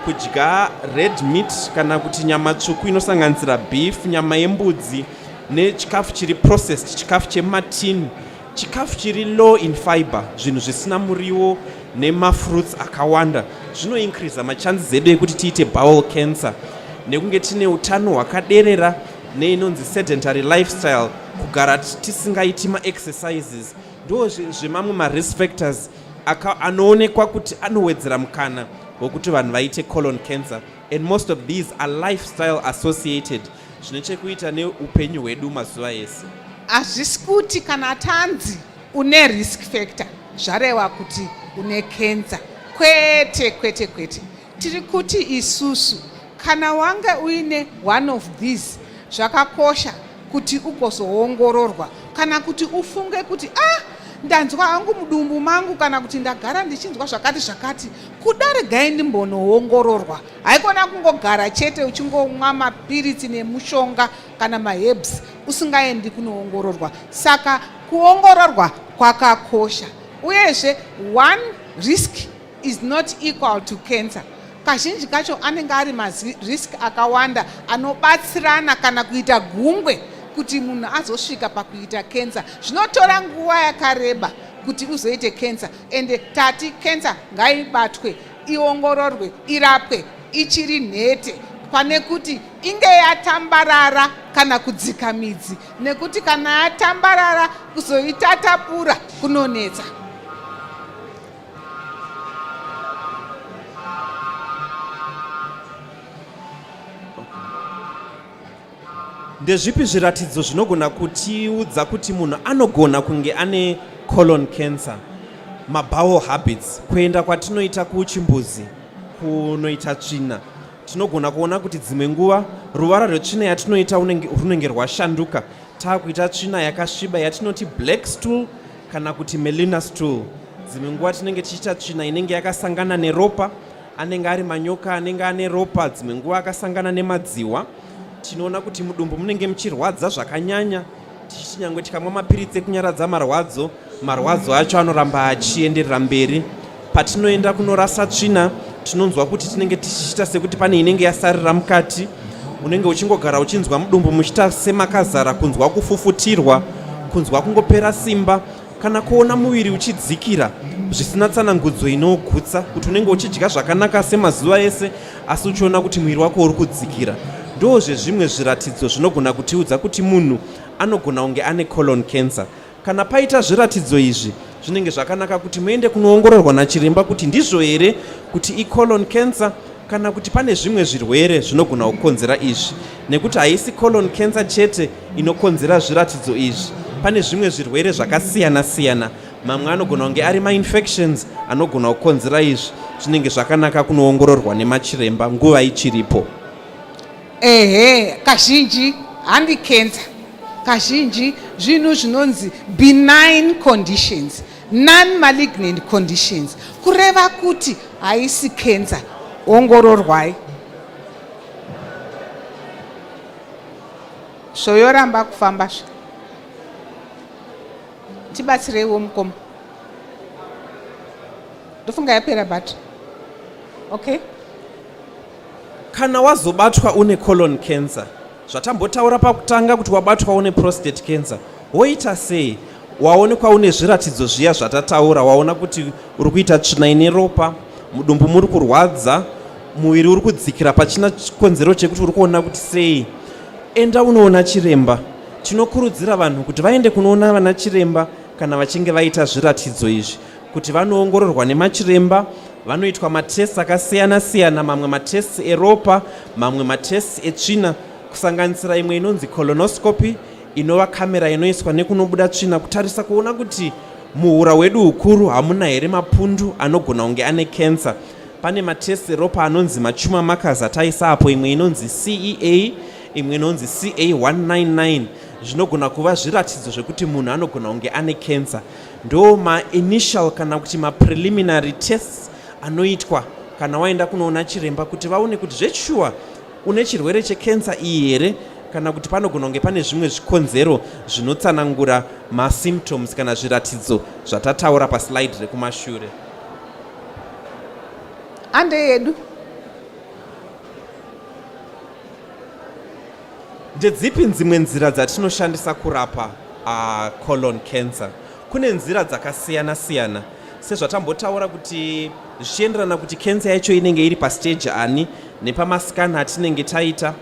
kudya red meat kana kuti nyama tsvuku inosanganisira beef nyama yembudzi nechikafu chiri processed chikafu chematini Chikafu chiri low in fiber, zvinhu zvisina muriwo nemafruits akawanda zvinoincreasa machances edu ekuti tiite bowel cancer nekunge tine utano hwakaderera neinonzi sedentary lifestyle kugara tisingaiti maexercises ndo zvemamwe marisk factors anoonekwa kuti anowedzera mukana wekuti vanhu vaite colon cancer and most of these are lifestyle associated zvine chekuita neupenyu hwedu mazuva ese hazvisi kuti kana tanzi une risk factor zvarewa kuti une kenza kwete kwete kwete tiri kuti isusu kana wange uine one of these zvakakosha kuti ugozoongororwa kana kuti ufunge kuti ah ndanzwa hangu mudumbu mangu kana kuti ndagara ndichinzwa zvakati zvakati kuda regai ndimbonoongororwa haikona kungogara chete uchingomwa mapiritsi nemushonga kana mahebs usingaendi kunoongororwa saka kuongororwa kwakakosha uyezve one risk is not equal to cancer kazhinji kacho anenge ari marisk akawanda anobatsirana kana kuita gungwe kuti munhu azosvika pakuita cancer zvinotora nguva yakareba kuti uzoite cancer ende tati cancer ngaibatwe iongororwe irapwe ichiri nhete pane kuti inge yatambarara kana kudzika midzi nekuti kana yatambarara kuzoitatapura kunonetsa ndezvipi zviratidzo zvinogona kutiudza kuti munhu anogona kunge ane colon cancer mabowel habits kuenda kwatinoita kuchimbuzi kunoita tsvina tinogona kuona kuti dzimwe nguva ruvara rwetsvina yatinoita runenge rwashanduka taakuita tsvina yakasviba yatinoti black stool kana kuti melina stool dzimwe nguva tinenge tichiita tsvina inenge yakasangana neropa anenge ari manyoka anenge ane ropa dzimwe nguva akasangana nemadziwa tinoona kuti mudumbu munenge muchirwadza zvakanyanya tichiti nyangwe tikamwa mapiritsi ekunyaradza marwadzo marwadzo acho anoramba achienderera mberi patinoenda kunorasa tsvina tinonzwa kuti tinenge tichiita sekuti pane inenge yasarira mukati unenge uchingogara uchinzwa mudumbu muchiita semakazara kunzwa kufufutirwa kunzwa kungopera simba Kana kuona muviri uchidzikira zvisina tsanangudzo inogutsa kuti unenge uchidya zvakanaka semazuva ese asi uchiona kuti muviri wako uri kudzikira ndozve zvimwe zviratidzo zvinogona kutiudza kuti munhu anogona kunge ane colon cancer kana paita zviratidzo izvi zvinenge zvakanaka kuti muende kunoongororwa nachiremba kuti ndizvo here kuti icolon cancer kana kuti pane zvimwe zvirwere zvinogona kukonzera izvi nekuti haisi colon cancer chete inokonzera zviratidzo izvi pane zvimwe zvirwere zvakasiyana siyana mamwe anogona kunge ari mainfections anogona kukonzera izvi zvinenge zvakanaka kunoongororwa nemachiremba nguva ichiripo ehe kazhinji handi cancer kazhinji zvinhu zvinonzi benign conditions Non-malignant conditions kureva kuti haisi cancer. Ongororwai. Zvoyoramba kufamba zve. Tibatsireiwo mukoma. Ndofunga yapera but. Okay. Kana wazobatwa une colon cancer Zvatambotaura pakutanga kuti wabatwa une prostate cancer woita sei waonekwa une zviratidzo zviya zvatataura waona kuti uri kuita tsvina ine ropa mudumbu muri kurwadza muviri uri kudzikira pachina chikonzero chekuti uri kuona kuti sei enda unoona chiremba tinokurudzira vanhu kuti vaende kunoona vana chiremba kana vachinge vaita zviratidzo izvi kuti vanoongororwa nemachiremba vanoitwa matests akasiyana siyana mamwe matests eropa mamwe matests etsvina kusanganisira imwe inonzi colonoscopy inova kamera inoiswa nekunobuda tsvina kutarisa kuona kuti muhura hwedu hukuru hamuna here mapundu anogona kunge ane cancer pane matests eropa anonzi machuma markers ataisa apo imwe inonzi cea imwe inonzi ca 199 zvinogona kuva zviratidzo zvekuti munhu anogona kunge ane cancer Ndo ma initial kana kuti ma preliminary tests anoitwa kana waenda kunoona chiremba kuti vaone kuti zveshuwa une chirwere chekensa iyi here kana kuti panogona kunge pane zvimwe zvikonzero zvinotsanangura masymptoms kana zviratidzo zvatataura paslide rekumashure ande yedu Ndedzipi dzimwe nzira dzatinoshandisa kurapa uh, colon cancer? Kune nzira dzakasiyana siyana sezvatambotaura kuti zvichienderana kuti cancer yacho inenge iri pastage ani nepamascan atinenge taita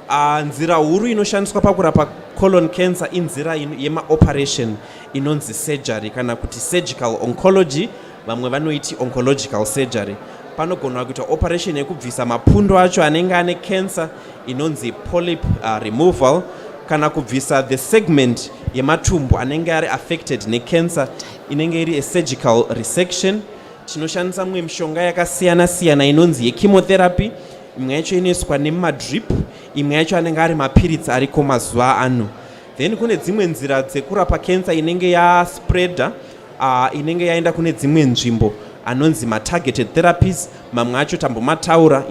uh, nzira huru inoshandiswa pakurapa colon cancer inzira yemaoperation inonzi surgery kana kuti surgical oncology vamwe vanoiti oncological surgery panogona kuita operation yekubvisa mapundu acho anenge ane cancer inonzi polyp uh, removal kana kubvisa the segment yematumbu anenge ari affected necancer inenge iri asurgical resection tinoshandisa mumwe mishonga yakasiyana siyana inonzi yechemotherapy imwe yacho inoiswa nemadrip imwe yacho anenge ari mapiritsi ariko mazuva ano then kune dzimwe nzira dzekurapa cancer inenge yaspreader uh, inenge yaenda kune dzimwe nzvimbo anonzi matargeted therapies mamwe acho tambomataura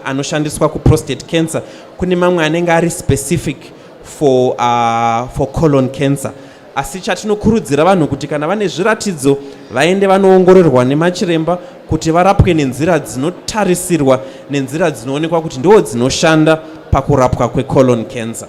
anoshandiswa kuprostate cancer kune mamwe anenge ari specific for, uh, for colon cancer asi chatinokurudzira vanhu kuti kana vane zviratidzo vaende vanoongororwa nemachiremba kuti varapwe nenzira dzinotarisirwa nenzira dzinoonekwa kuti ndoo dzinoshanda pakurapwa kwecolon cancer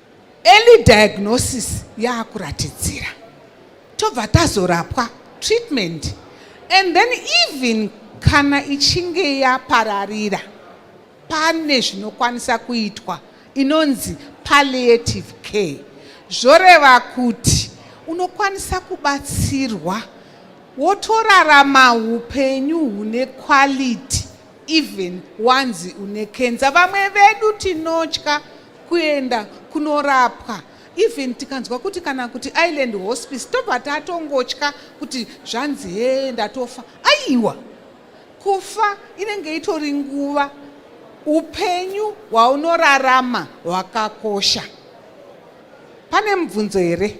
Early diagnosis yakuratidzira tobva tazorapwa treatment and then even kana ichinge yapararira pane zvinokwanisa kuitwa inonzi palliative care zvoreva kuti unokwanisa kubatsirwa wotorarama upenyu hune quality even wanzi une kenza vamwe vedu tinotya kuenda kunorapwa even tikanzwa kuti kana kuti island hospice tobva tatongotya kuti zvanzi hee ndatofa aiwa kufa inenge itori nguva upenyu hwaunorarama hwakakosha pane mubvunzo here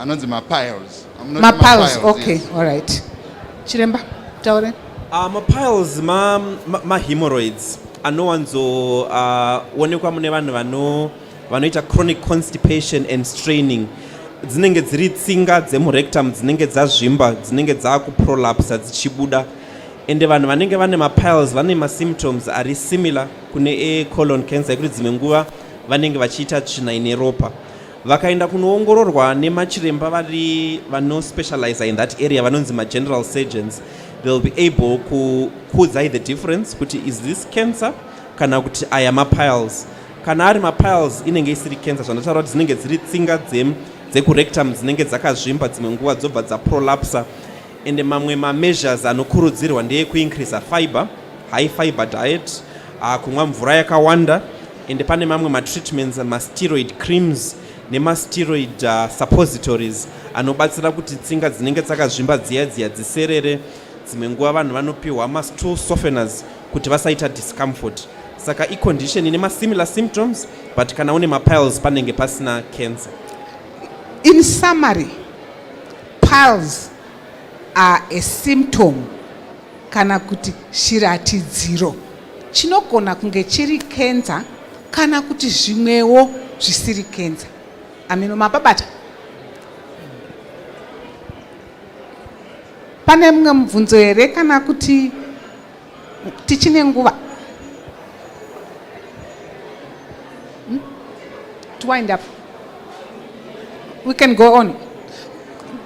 anonzi mapiles mapiles okay all right chiremba taure uh, mapiles ma, ma, ma hemorrhoids anowanzoonekwa uh, mune vanhu vano vanoita chronic constipation and straining dzinenge dziri tsinga dzemurectum dzinenge dzazvimba dzinenge dzakuprolapsa dzichibuda ende vanhu vanenge vane mapiles vane masymptoms ari similar kune ecolon cancer yekuti dzimwe nguva vanenge vachiita tsvina ine ropa vakaenda kunoongororwa nemachiremba vari vano specializer in that area vanonzi mageneral surgeons they'll be able kukuudzai the difference kuti is this cancer kana kuti aya mapiles kana ari mapiles inenge isiri cancer zvandataura kuti dzinenge dziri tsinga dzekurectum dzinenge dzakazvimba dzimwe nguva dzobva dzaprolapsa ende mamwe mameasures anokurudzirwa ndeekuincreasa fiber high fiber diet ah, kumwa mvura yakawanda ende pane mamwe matreatments masteroid creams nemasteroid uh, suppositories anobatsira kuti tsinga dzinenge dzakazvimba dziya dziya dziserere dzimwe nguva vanhu vanopiwa mastool softeners kuti vasaita discomfort saka icondition ine masimilar symptoms but kana une mapiles panenge pasina cancer in summary piles are a symptom kana kuti shiratidziro chinogona kunge chiri kenza kana kuti zvimwewo zvisiri kenza ameno mapabata pane mumwe mubvunzo here kana kuti tichine nguva hmm? to wind up we can go on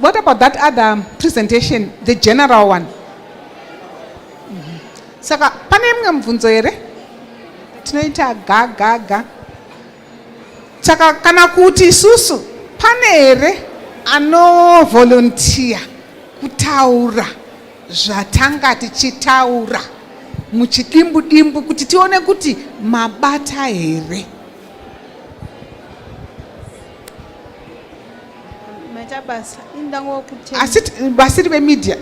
what about that other presentation the general one mhm. saka pane imwe mubvunzo here tinoita gagaga saka kana kuti isusu pane here anovolontiya kutaura zvatanga tichitaura muchidimbu dimbu kuti tione kuti mabata here maita basa indangokutenda asi basi rive media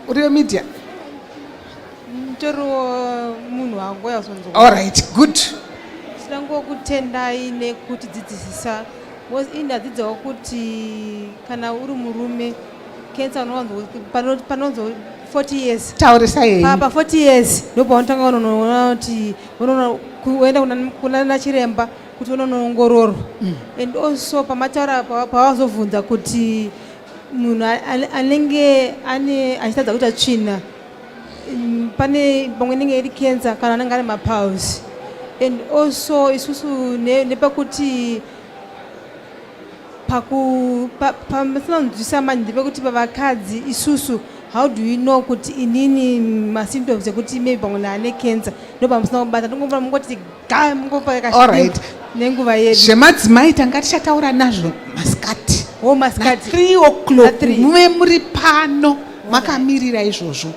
urive media nditoriwo munhu wangu yazonzwa all right good ndangokutendai nekuti dzidzisisa was ini adzidzawo kuti kana uri murume Cancer unowanzo pano panonzo 40 years. Taurisa yeye. Papa 40 years ndopaunotanga unoona kuti unoona kuenda kuna kuna nachiremba kuti unonoongororwa. Mm. And also pamataura pawazovhunza kuti munhu anenge ane achitadza kuita tsvina mm, pane pamwe inenge iri cancer kana anenge ane mapulse and also isusu nepakuti ne pamusinakunzwisa pa, pa, manje ndepekuti pavakadzi isusu how do you know kuti inini masymptoms ekuti maybe pamwe naane cancer ndo pamusina kubata ndongomvura mungoti ga mungopakaallright nenguva yedu zvemadzimai tanga tichataura nazvo masikati o oh, masikati three o'clock muve muri pano makamirira izvozvo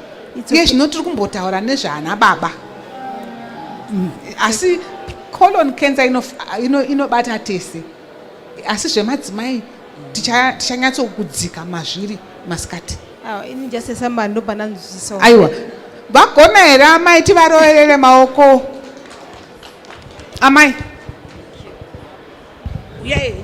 nge zvino tiri kumbotaura nezvaana baba mm. asi colon cancer inobata ino, ino tese asi zvemadzimai tichanyatsokudzika mazviri masikati ah, ini just esamba ndopananzwisisa aiwa vagona here amai tivaroverere maoko amai uyai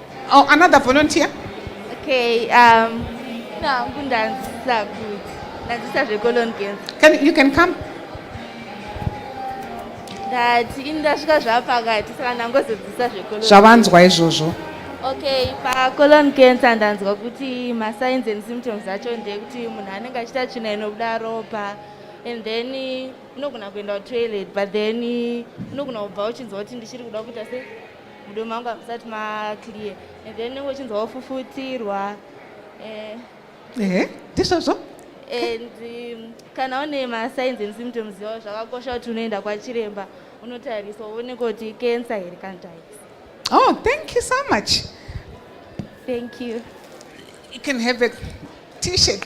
Oh, another volunteer. Okay, um, no, kundanzisa kuti ndanzisa zveColon Girls. Can you can come? Ndati ini ndasvika zvapakati saka ndangozodzisa zveColon. Zvavanzwa izvozvo. Okay, paColon cancer ndanzwa kuti masigns and symptoms acho ndekuti munhu anenge achiita tsvina inobuda ropa and then unogona kuenda kutoilet but then unogona kubva uchinzwa kuti ndichiri kuda kuita sei mudomo mangu hamusati maclear and then unenge uchinzwa wofufutirwa eh. ehe ndizvozvo and um, kana une masigns and symptoms yawo zvakakosha kuti unoenda kwachiremba unotariswa uone kuti cancer here kana types oh thank you so much thank you you can have a t-shirt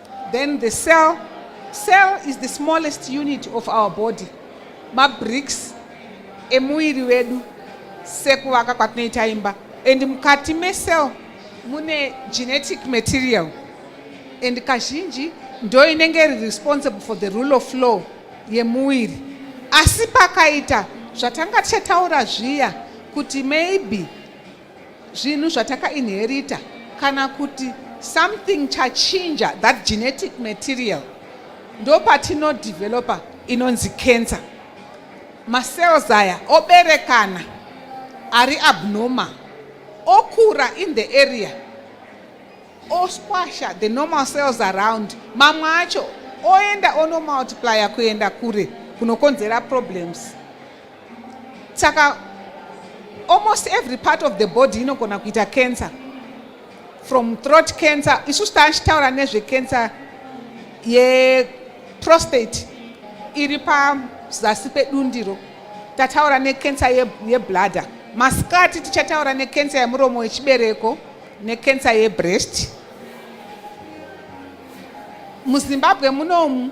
Then the cell. Cell is the smallest unit of our body. Mabricks emuiri wedu sekuvaka kwatinoita imba. And mukati mesel mune genetic material. And kazhinji ndo inenge iri responsible for the rule of law yemuiri. Asi pakaita zvatanga tichataura zviya kuti maybe zvinhu zvatakainherita kana kuti something chachinja that genetic material ndopatinodevelopa inonzi cancer macells aya oberekana ari abnormal okura in the area osquasha the normal cells around mamwe acho oenda onomultiplya kuenda kure kunokonzera problems saka almost every part of the body inogona kuita cancer from throat cancer isusu taachitaura nezvecancer yeprostate iri pazasi pedundiro tataura necancer yebladder masikati tichataura necancer yemuromo wechibereko necancer yebreast muzimbabwe munomu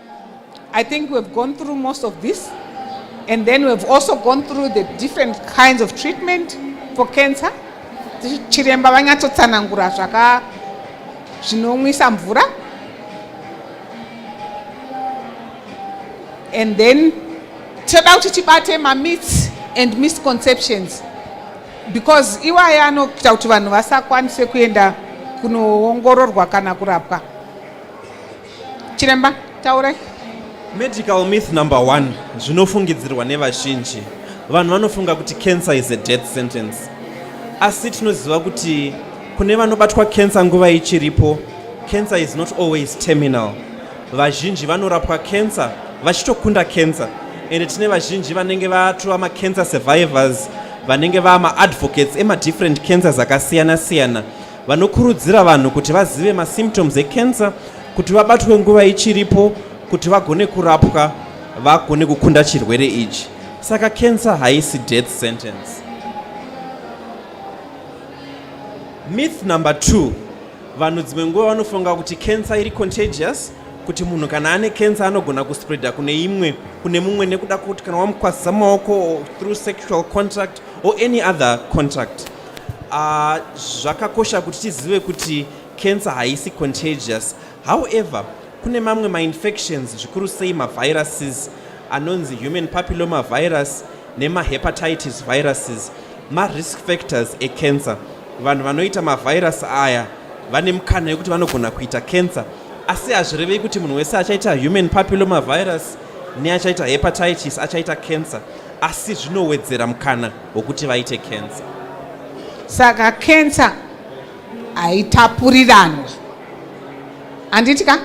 I think we've gone through most of this and then we've also gone through the different kinds of treatment for cancer chiremba vanyatsotsanangura zvaka zvinonwisa mvura and then toda kuti tibate mamits and misconceptions because iwaya anoita kuti vanhu vasakwanise kuenda kunoongororwa kana kurapwa chiremba taurai medical myth number one zvinofungidzirwa nevazhinji vanhu vanofunga kuti cancer is a death sentence asi tinoziva kuti kune vanobatwa cancer nguva ichiripo cancer is not always terminal vazhinji vanorapwa cancer vachitokunda cancer ende tine vazhinji vanenge vatova macancer survivors vanenge vaa maadvocates emadifferent cancers akasiyana siyana Vanokurudzira vanhu kuti vazive masymptoms ecancer kuti vabatwe nguva ichiripo kuti vagone kurapwa vagone kukunda chirwere ichi. Saka cancer haisi death sentence. Myth number 2. Vanhu dzimwe nguva vanofunga kuti cancer iri contagious kuti munhu kana ane cancer anogona kuspreader kune imwe kune mumwe nekuda kuti kana wamukwazisa maoko through sexual contact or any other contact Uh, zvakakosha kuti tizive kuti cancer haisi contagious however kune mamwe mainfections zvikuru sei maviruses anonzi human papilloma virus nemahepatitis viruses marisk factors ecancer vanhu vanoita mavirus aya vane mukana yekuti vanogona kuita cancer asi hazvirevei kuti munhu wese achaita human papilloma virus neachaita hepatitis achaita cancer asi zvinowedzera mukana hwokuti vaite kensa saka kensa haitapuriranwe handitika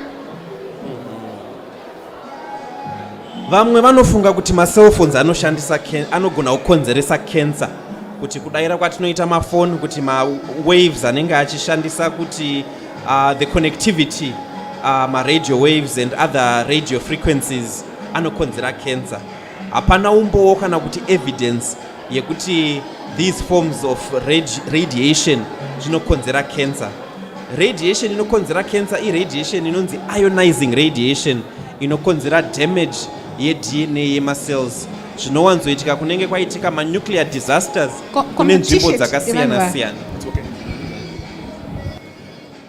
vamwe vanofunga kuti macellphones anoshandisa anogona kukonzeresa kensa kuti kudaira kwatinoita mafoni kuti mawaves anenge achishandisa kuti uh, the connectivity uh, maradio waves and other radio frequencies anokonzera kensa hapana umbowo kana kuti evidence yekuti these forms of radiation zvinokonzera cancer radiation inokonzera cancer iradiation inonzi ionizing radiation inokonzera damage yedna yemacells zvinowanzoitika kunenge kwaitika manuclear disasters kune nzvimbo dzakasiyana siyana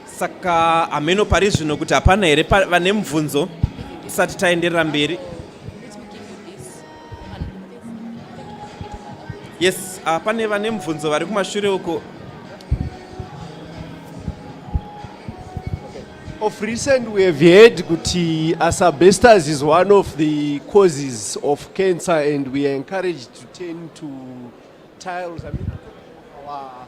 Saka hameno pari zvino kuti hapana here vane mubvunzo tisati taenderera mberi? Yes, uh, pane vane mubvunzo vari kumashure uko. Of recent we have heard kuti asbestos is one of the causes of cancer and we are encouraged to tend to tiles. I mean, our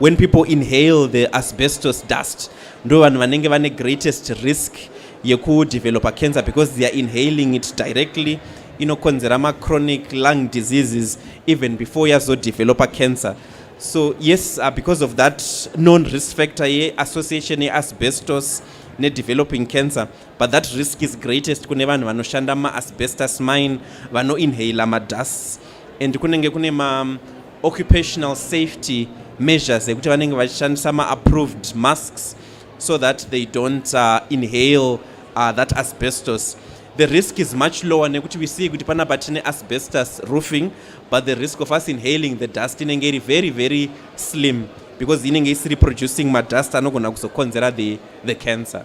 When people inhale the asbestos dust ndo vanhu vanenge vane greatest risk yekudevelopa cancer because they are inhaling it directly inokonzera machronic lung diseases even before yazodevelopa cancer so yes uh, because of that non risk factor yeassociation yeasbestos nedeveloping cancer but that risk is greatest kune vanhu vanoshanda maasbestos mine vanoinhaler madusts and kunenge kune ma occupational safety measures ekuti vanenge vachishandisa maapproved masks so that they don't uh, inhale uh, that asbestos the risk is much lower nekuti we see kuti panapa tine asbestos roofing but the risk of us inhaling the dust inenge iri very very slim because inenge isiri producing madust anogona kuzokonzera the, the cancer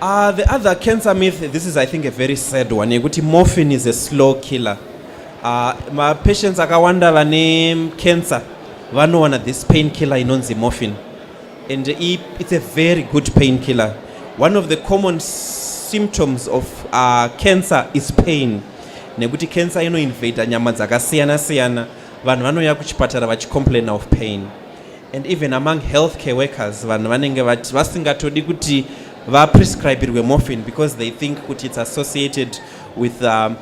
Uh, the other cancer myth, this is I think a very sad one, yekuti morphine is a slow killer. Uh, mapatients akawanda vane cancer vanowana this pain killer inonzi morphine and it's a very good pain killer. One of the common symptoms of uh, cancer is pain nekuti cancer inoinvada nyama dzakasiyana siyana vanhu vanouya kuchipatara vachicomplaina of pain and even among health care workers vanhu vanenge vati vasingatodi kuti vaprescribirwe morphine because they think kuti its associated with, um,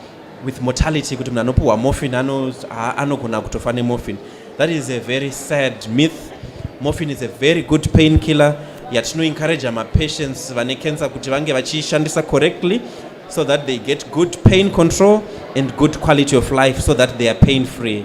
with mortality kuti munhu anopiwa morphine anogona ano kutofa nemorphine that is a very sad myth morphine is a very good pain killer yatinoencouragea mapatients vane cancer kuti vange vachiishandisa correctly so that they get good pain control and good quality of life so that they are pain free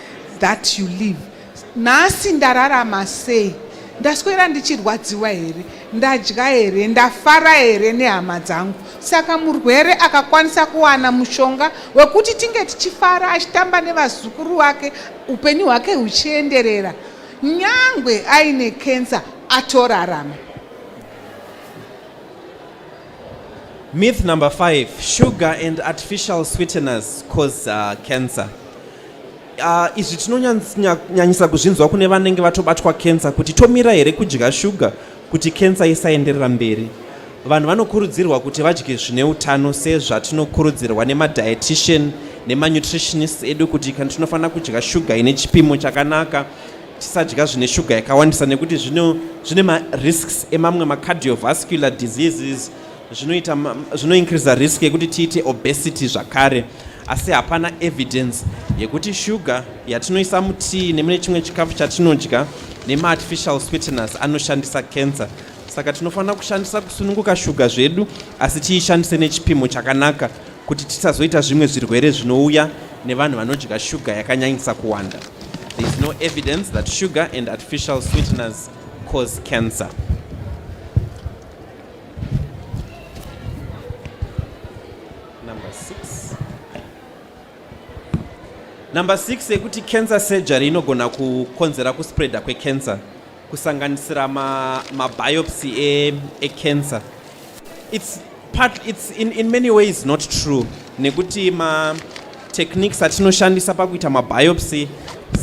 that you live nhasi ndararama sei ndaswera ndichirwadziwa here ndadya here ndafara here nehama dzangu saka murwere akakwanisa kuwana mushonga wekuti tinge tichifara achitamba nevazukuru vake upenyu hwake huchienderera nyangwe aine kensa atorarama Myth number five, sugar and artificial sweeteners cause uh, cancer. Uh, izvi tinonyanyisa kuzvinzwa kune vanenge vatobatwa cancer kuti tomira here kudya shuga kuti cancer isaenderera mberi. Vanhu vanokurudzirwa kuti vadye zvine utano sezvatinokurudzirwa nemadietitian nemanutritionist edu kuti kana tinofanira kudya shuga ine chipimo chakanaka Tisadya zvine shuga yakawandisa nekuti zvino zvine marisks emamwe macardiovascular diseases zvinoita zvinoincreasa risk yekuti tiite obesity zvakare asi hapana evidence yekuti shuga yatinoisa mutii nemune chimwe chikafu chatinodya nemaartificial sweeteners anoshandisa cancer Saka tinofanira kushandisa kusununguka shuga zvedu asi tiishandise nechipimo chakanaka kuti tisazoita zvimwe zvirwere zvinouya nevanhu vanodya shuga yakanyanyisa kuwanda. There is no evidence that sugar and artificial sweeteners cause cancer. Number six. Number six yekuti cancer surgery inogona kukonzera kuspreader kwecancer. kusanganisira mabiopsy ma e, ecancer e its part its in, in many ways not true nekuti ma techniques atinoshandisa pakuita mabiopsy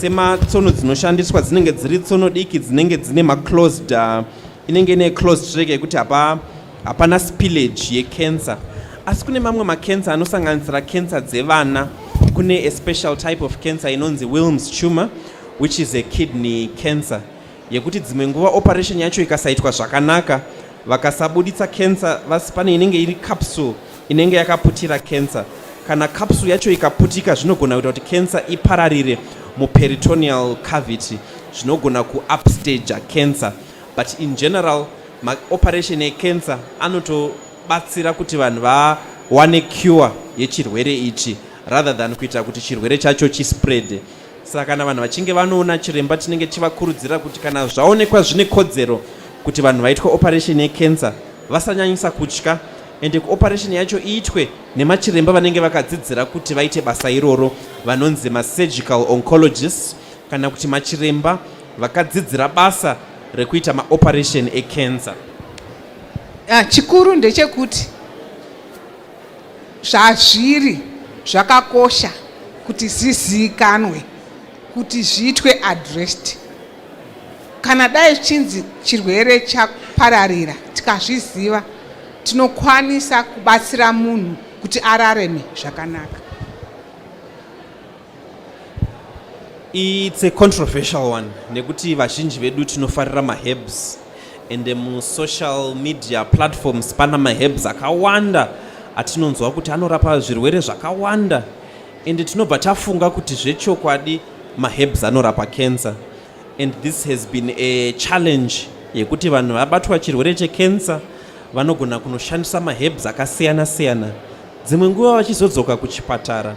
sematsono dzinoshandiswa dzinenge dziri tsono diki dzinenge dzine maclosed uh, inenge ine closed track yekuti hapa hapana spillage yecancer asi kune mamwe macancer anosanganisira cancer dzevana kune a special type of cancer inonzi wilms tumor which is a kidney cancer yekuti dzimwe nguva operation yacho ikasaitwa zvakanaka vakasabuditsa cancer vasi pane inenge iri capsule inenge yakaputira cancer kana capsule yacho ikaputika zvinogona kuita kuti cancer ipararire muperitoneal cavity zvinogona kuupstage cancer but in general maoperation ecancer anotobatsira kuti vanhu vawane cure yechirwere ichi rather than kuita kuti chirwere chacho chispread Saka kana vanhu vachinge vanoona chiremba tinenge tichivakurudzira kuti kana zvaonekwa zvine kodzero kuti vanhu vaitwe operation yecancer vasanyanyisa kutya ende kuoperation yacho iitwe nemachiremba vanenge vakadzidzira kuti vaite basa iroro vanonzi masurgical oncologist kana kuti machiremba vakadzidzira basa rekuita maoperation ecancer ah, chikuru ndechekuti Zvazviri zvakakosha kuti zviziikanwe kuti zviitwe addressed. Kana dai zvichinzi chirwere chapararira tikazviziva tinokwanisa kubatsira munhu kuti arareme zvakanaka. It's a controversial one nekuti vazhinji vedu tinofarira maherbs and musocial media platforms pana maherbs akawanda atinonzwa kuti anorapa zvirwere zvakawanda and tinobva tafunga kuti zvechokwadi maherbs anorapa cancer and this has been a challenge yekuti vanhu vabatwa chirwere checancer vanogona kunoshandisa maherbs akasiyana siyana dzimwe nguva vachizodzoka kuchipatara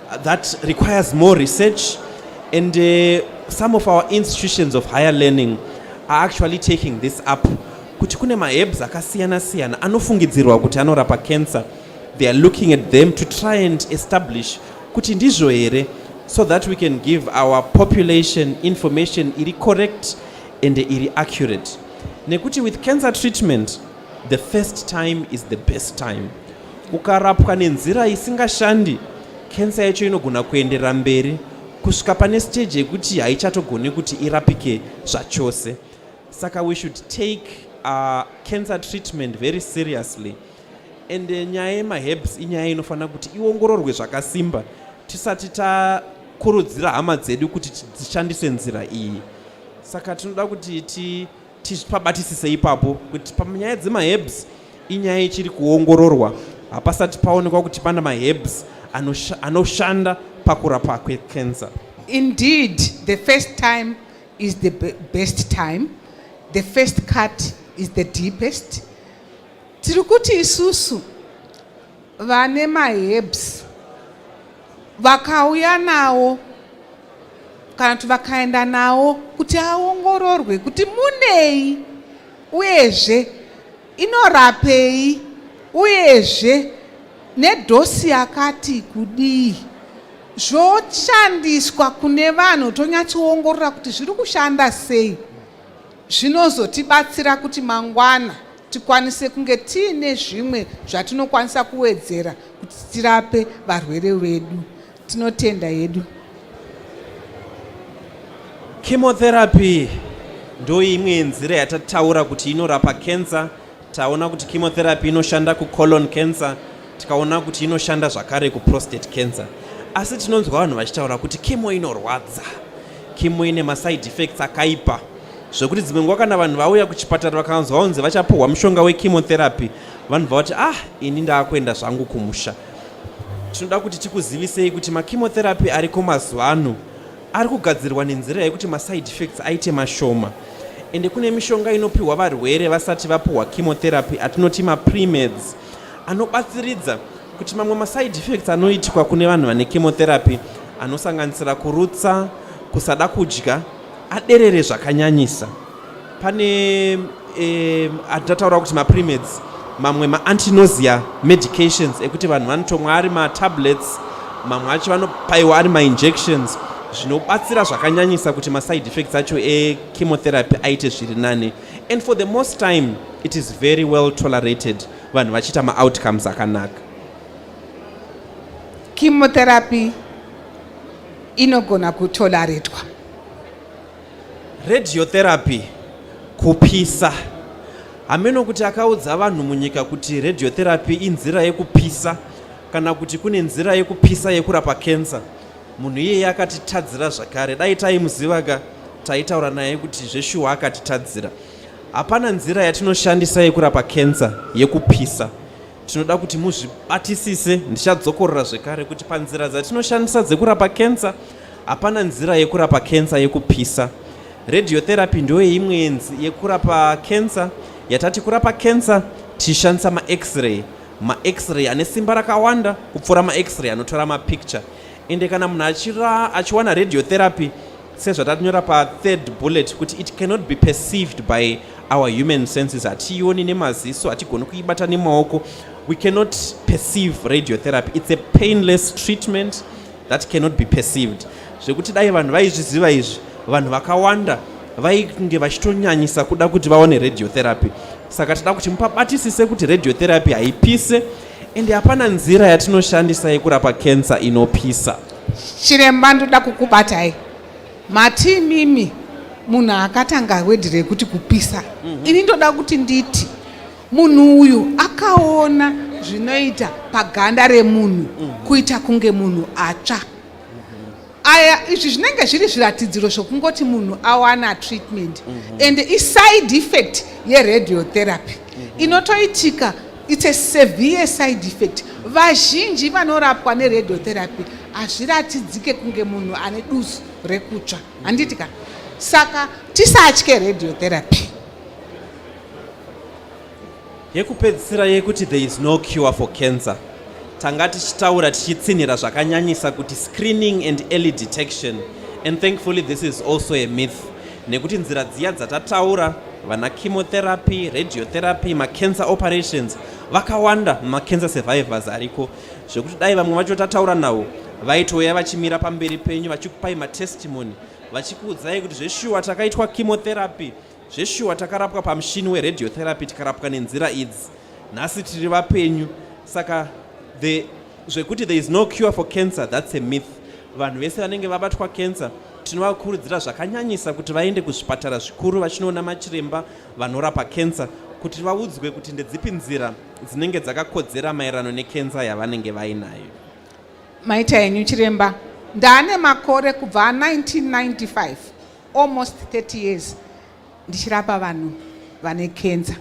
That requires more research and uh, some of our institutions of higher learning are actually taking this up kuti kune maherbs akasiyana siyana anofungidzirwa kuti anorapa cancer they are looking at them to try and establish kuti ndizvo here so that we can give our population information iri correct and iri accurate nekuti with cancer treatment The first time is the best time. Ukarapwa nenzira isingashandi, kensa yacho inogona kuenderera mberi kusvika pane stage yekuti haichatogone kuti irapike zvachose. Saka we should take uh, cancer treatment very seriously and uh, nyaya yemaherbs inyaya inofanira kuti iongororwe zvakasimba tisati takurudzira hama dzedu kuti dzishandise nzira iyi saka tinoda kuti ti Tipabatisise ipapo kuti panyaya dzemaherbs inyaya ichiri kuongororwa, hapasati paonekwa kuti pana maherbs anoshanda pakurapa kwecancer. Indeed, the first time is the best time. The first cut is the deepest. Tiri kuti isusu vane maherbs vakauya nawo kana kuti vakaenda nawo kuti aongororwe kuti munei uyezve inorapei uyezve nedhosi yakati kudii zvoshandiswa kune vanhu tonyatsoongorora kuti zviri kushanda sei Zvinozotibatsira kuti mangwana tikwanise kunge tiine zvimwe zvatinokwanisa kuwedzera kuti tirape varwere vedu. Tinotenda hedu. Chemotherapy ndoimwe yenzira yatataura kuti inorapa cancer Taona kuti chemotherapy inoshanda kucolon cancer, tikaona kuti inoshanda zvakare kuprostate cancer. Asi tinonzwa vanhu vachitaura kuti chemo inorwadza, chemo ine maside effects akaipa zvekuti dzimwe nguva kana vanhu vauya kuchipatara vakanzwa vanzi vachapuhwa mushonga wechemotherapy vanobva vati ah ini ndaakuenda zvangu kumusha tinoda kuti tikuzivisei kuti machemotherapy ariko mazuva ano ari kugadzirwa nenzira yekuti maside effects aite mashoma ende kune mishonga inopiwa varwere vasati vapuhwa chemotherapy atinoti mapremeds anobatsiridza kuti mamwe maside effects anoitwa kune vanhu vane chemotherapy anosanganisira kurutsa kusada kudya aderere zvakanyanyisa pane eh, atataura kuti mapremeds mamwe maantinosia medications ekuti vanhu vanotomwa ari matablets mamwe acho vanopaiwa ari mainjections zvinobatsira zvakanyanyisa kuti maside effects acho echemotherapy aite zviri nani and for the most time it is very well tolerated vanhu vachiita maoutcomes akanaka chemotherapy inogona kutoleratwa Radiotherapy, kupisa. Hameno kuti akaudza vanhu munyika kuti radiotherapy inzira yekupisa kana kuti kune nzira yekupisa yekurapa cancer. Munhu iyeye akatitadzira zvakare. Dai taimuziva ka taitaura naye kuti zveshuwa akatitadzira. Hapana nzira yatinoshandisa yekurapa cancer yekupisa. Tinoda kuti muzvibatisise, ndichadzokorora zvekare kuti panzira dzatinoshandisa dzekurapa cancer Hapana nzira yekurapa kensa yekupisa. Radiotherapy ndoyeimwe yenzi yekurapa kensa yatati kurapa kensa tichishandisa max-ray max-ray ane simba rakawanda kupfuura max-ray anotora mapicture ende kana munhu achira achiwana radiotherapy sezvatatinyora pathird bullet kuti it cannot be perceived by our human senses hatiioni nemaziso hatigoni kuibata nemaoko we cannot perceive radiotherapy it's a painless treatment that cannot be perceived zvekuti dai vanhu vaizviziva izvi vanhu vakawanda vainge vachitonyanyisa kuda kuti vaone radiotherapy saka tida kuti mupabatisise kuti radiotherapy haipise ende hapana nzira yatinoshandisa yekurapa cancer inopisa chiremba ndoda kukubatai mati mimi munhu akatanga wedhi rekuti kupisa mm -hmm. ini ndoda kuti nditi Munhu uyu akaona zvinoita paganda remunhu kuita kunge munhu atsva. Aya izvi zvinenge zviri zviratidziro zvokungoti munhu awana treatment and iside effect yeradiotherapy inotoitika it's a severe side effect vazhinji vanorapwa neradiotherapy hazviratidzike kunge munhu ane dusu rekutsva handiti ka saka tisatye radiotherapy Yekupedzisira yekuti there is no cure for cancer tanga tichitaura tichitsinhira zvakanyanyisa kuti screening and early detection and thankfully this is also a myth nekuti nzira dziya dzatataura vana chemotherapy radiotherapy macancer operations vakawanda macancer survivors ariko zvekuti dai vamwe vacho tataura navo vaitouya vachimira pamberi penyu vachikupai matestimony vachikuudzai kuti zveshuwa takaitwa chemotherapy Zveshuwa takarapwa pamushini weradiotherapy tikarapwa nenzira idzi. Nhasi tiri vapenyu. Saka the zvekuti there is no cure for cancer that's a myth. Vanhu vese vanenge vabatwa cancer tinovakurudzira zvakanyanyisa kuti vaende kuzvipatara zvikuru vachinoona machiremba vanorapa cancer kuti vaudzwe kuti ndedzipi nzira dzinenge dzakakodzera maererano nekenza yavanenge vainayo maita henyu chiremba ndaane makore kubva 1995 almost 30 years ndichirapa vanhu vane kenza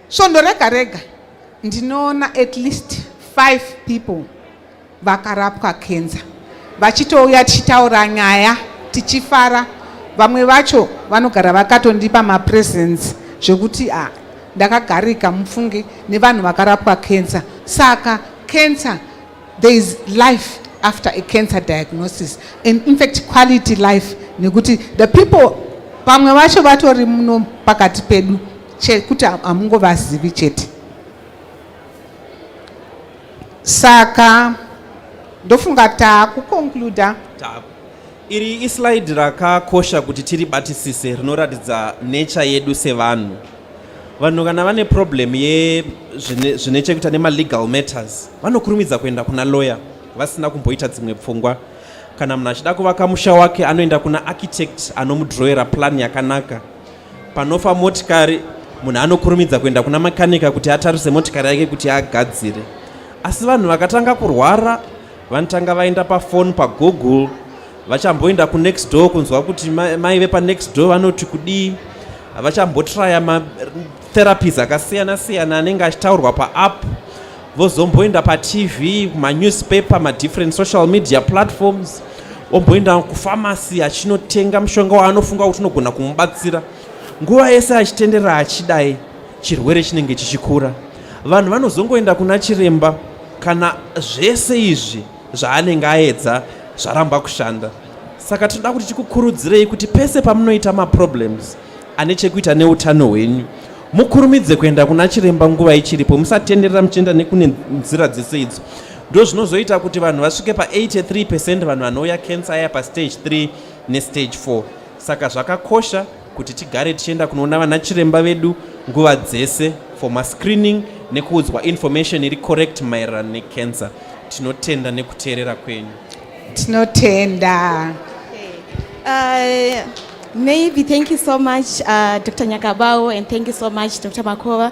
svondo rega rega ndinoona at least five people vakarapwa kenza vachitouya tichitaura nyaya tichifara vamwe vacho vanogara vakatondipa mapresence zvekuti a ah, ndakagarika mufunge nevanhu vakarapwa kenza saka kenza There is life after a cancer diagnosis and in fact quality life nekuti the people pamwe vacho vatori muno pakati pedu chekuti hamungovazivi chete saka ndofunga taakuconcluda Iri islide rakakosha kuti tiribatisise rinoratidza nature yedu sevanhu. Vanhu kana vane problem ye zvine chekuita nemalegal matters vanokurumidza kuenda kuna lawyer vasina kumboita dzimwe pfungwa. Kana munhu achida kuvaka musha wake anoenda kuna architect anomudrowera plan yakanaka. Panofa motikari munhu anokurumidza kuenda kuna makanika kuti atarise motikari yake kuti agadzire asi vanhu vakatanga kurwara Vanotanga vaenda pafoni pagoogle vachamboenda kunext door kunzwa kuti mai vepanext door vanoti kudii vachambotraya matherapies akasiyana siyana anenge achitaurwa paapp vozomboenda patv kumanewspaper madifferent social media platforms omboenda kufamasi achinotenga mushonga waanofunga kuti unogona kumubatsira nguva yese achitenderera achidai chirwere chinenge chichikura vanhu vanozongoenda kuna chiremba Kana zvese izvi zvaanenge aedza zvaramba kushanda, saka tinoda kuti tikukurudzirei kuti pese pamunoita maproblems ane chekuita neutano hwenyu mukurumidze kuenda kuna chiremba nguva ichiripo musatenderera muchienda nekune nzira dzese idzo ndo zvinozoita kuti vanhu vasvike pa83 percent vanhu vanouya cancer aya pastage 3 nestage 4 saka zvakakosha kuti tigare tichienda kunoona vanachiremba vedu nguva dzese for mascreening nekuudzwa information iri correct maererano necancer tinotenda nekuteerera kwenyu tinotenda uh, maybe thank you so much uh, dr nyakabau and thank you so much dr makova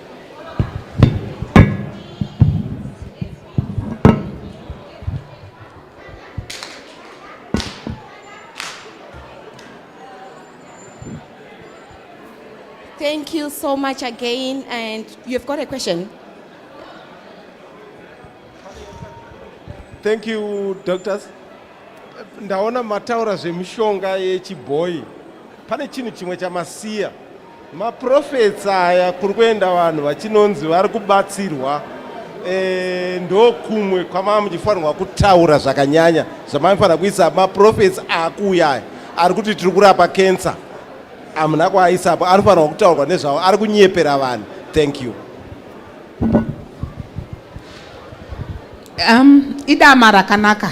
Thank you so much again. And you've got a question? Thank you, doctors. Ndaona mataura zvemishonga yechibhoyi. Pane chinhu chimwe chamasiya Maprophets aya kuri kuenda vanhu vachinonzi vari kubatsirwa e, ndokumwe kwamava muchifanirwa kutaura zvakanyanya zvamaifanira kuisa maprophets akuuya aya ari kuti tiri kurapa cancer amuna kwaaisapo anofanirwa kutaurwa nezvavo ari kunyepera vanhu thank you um, idama rakanaka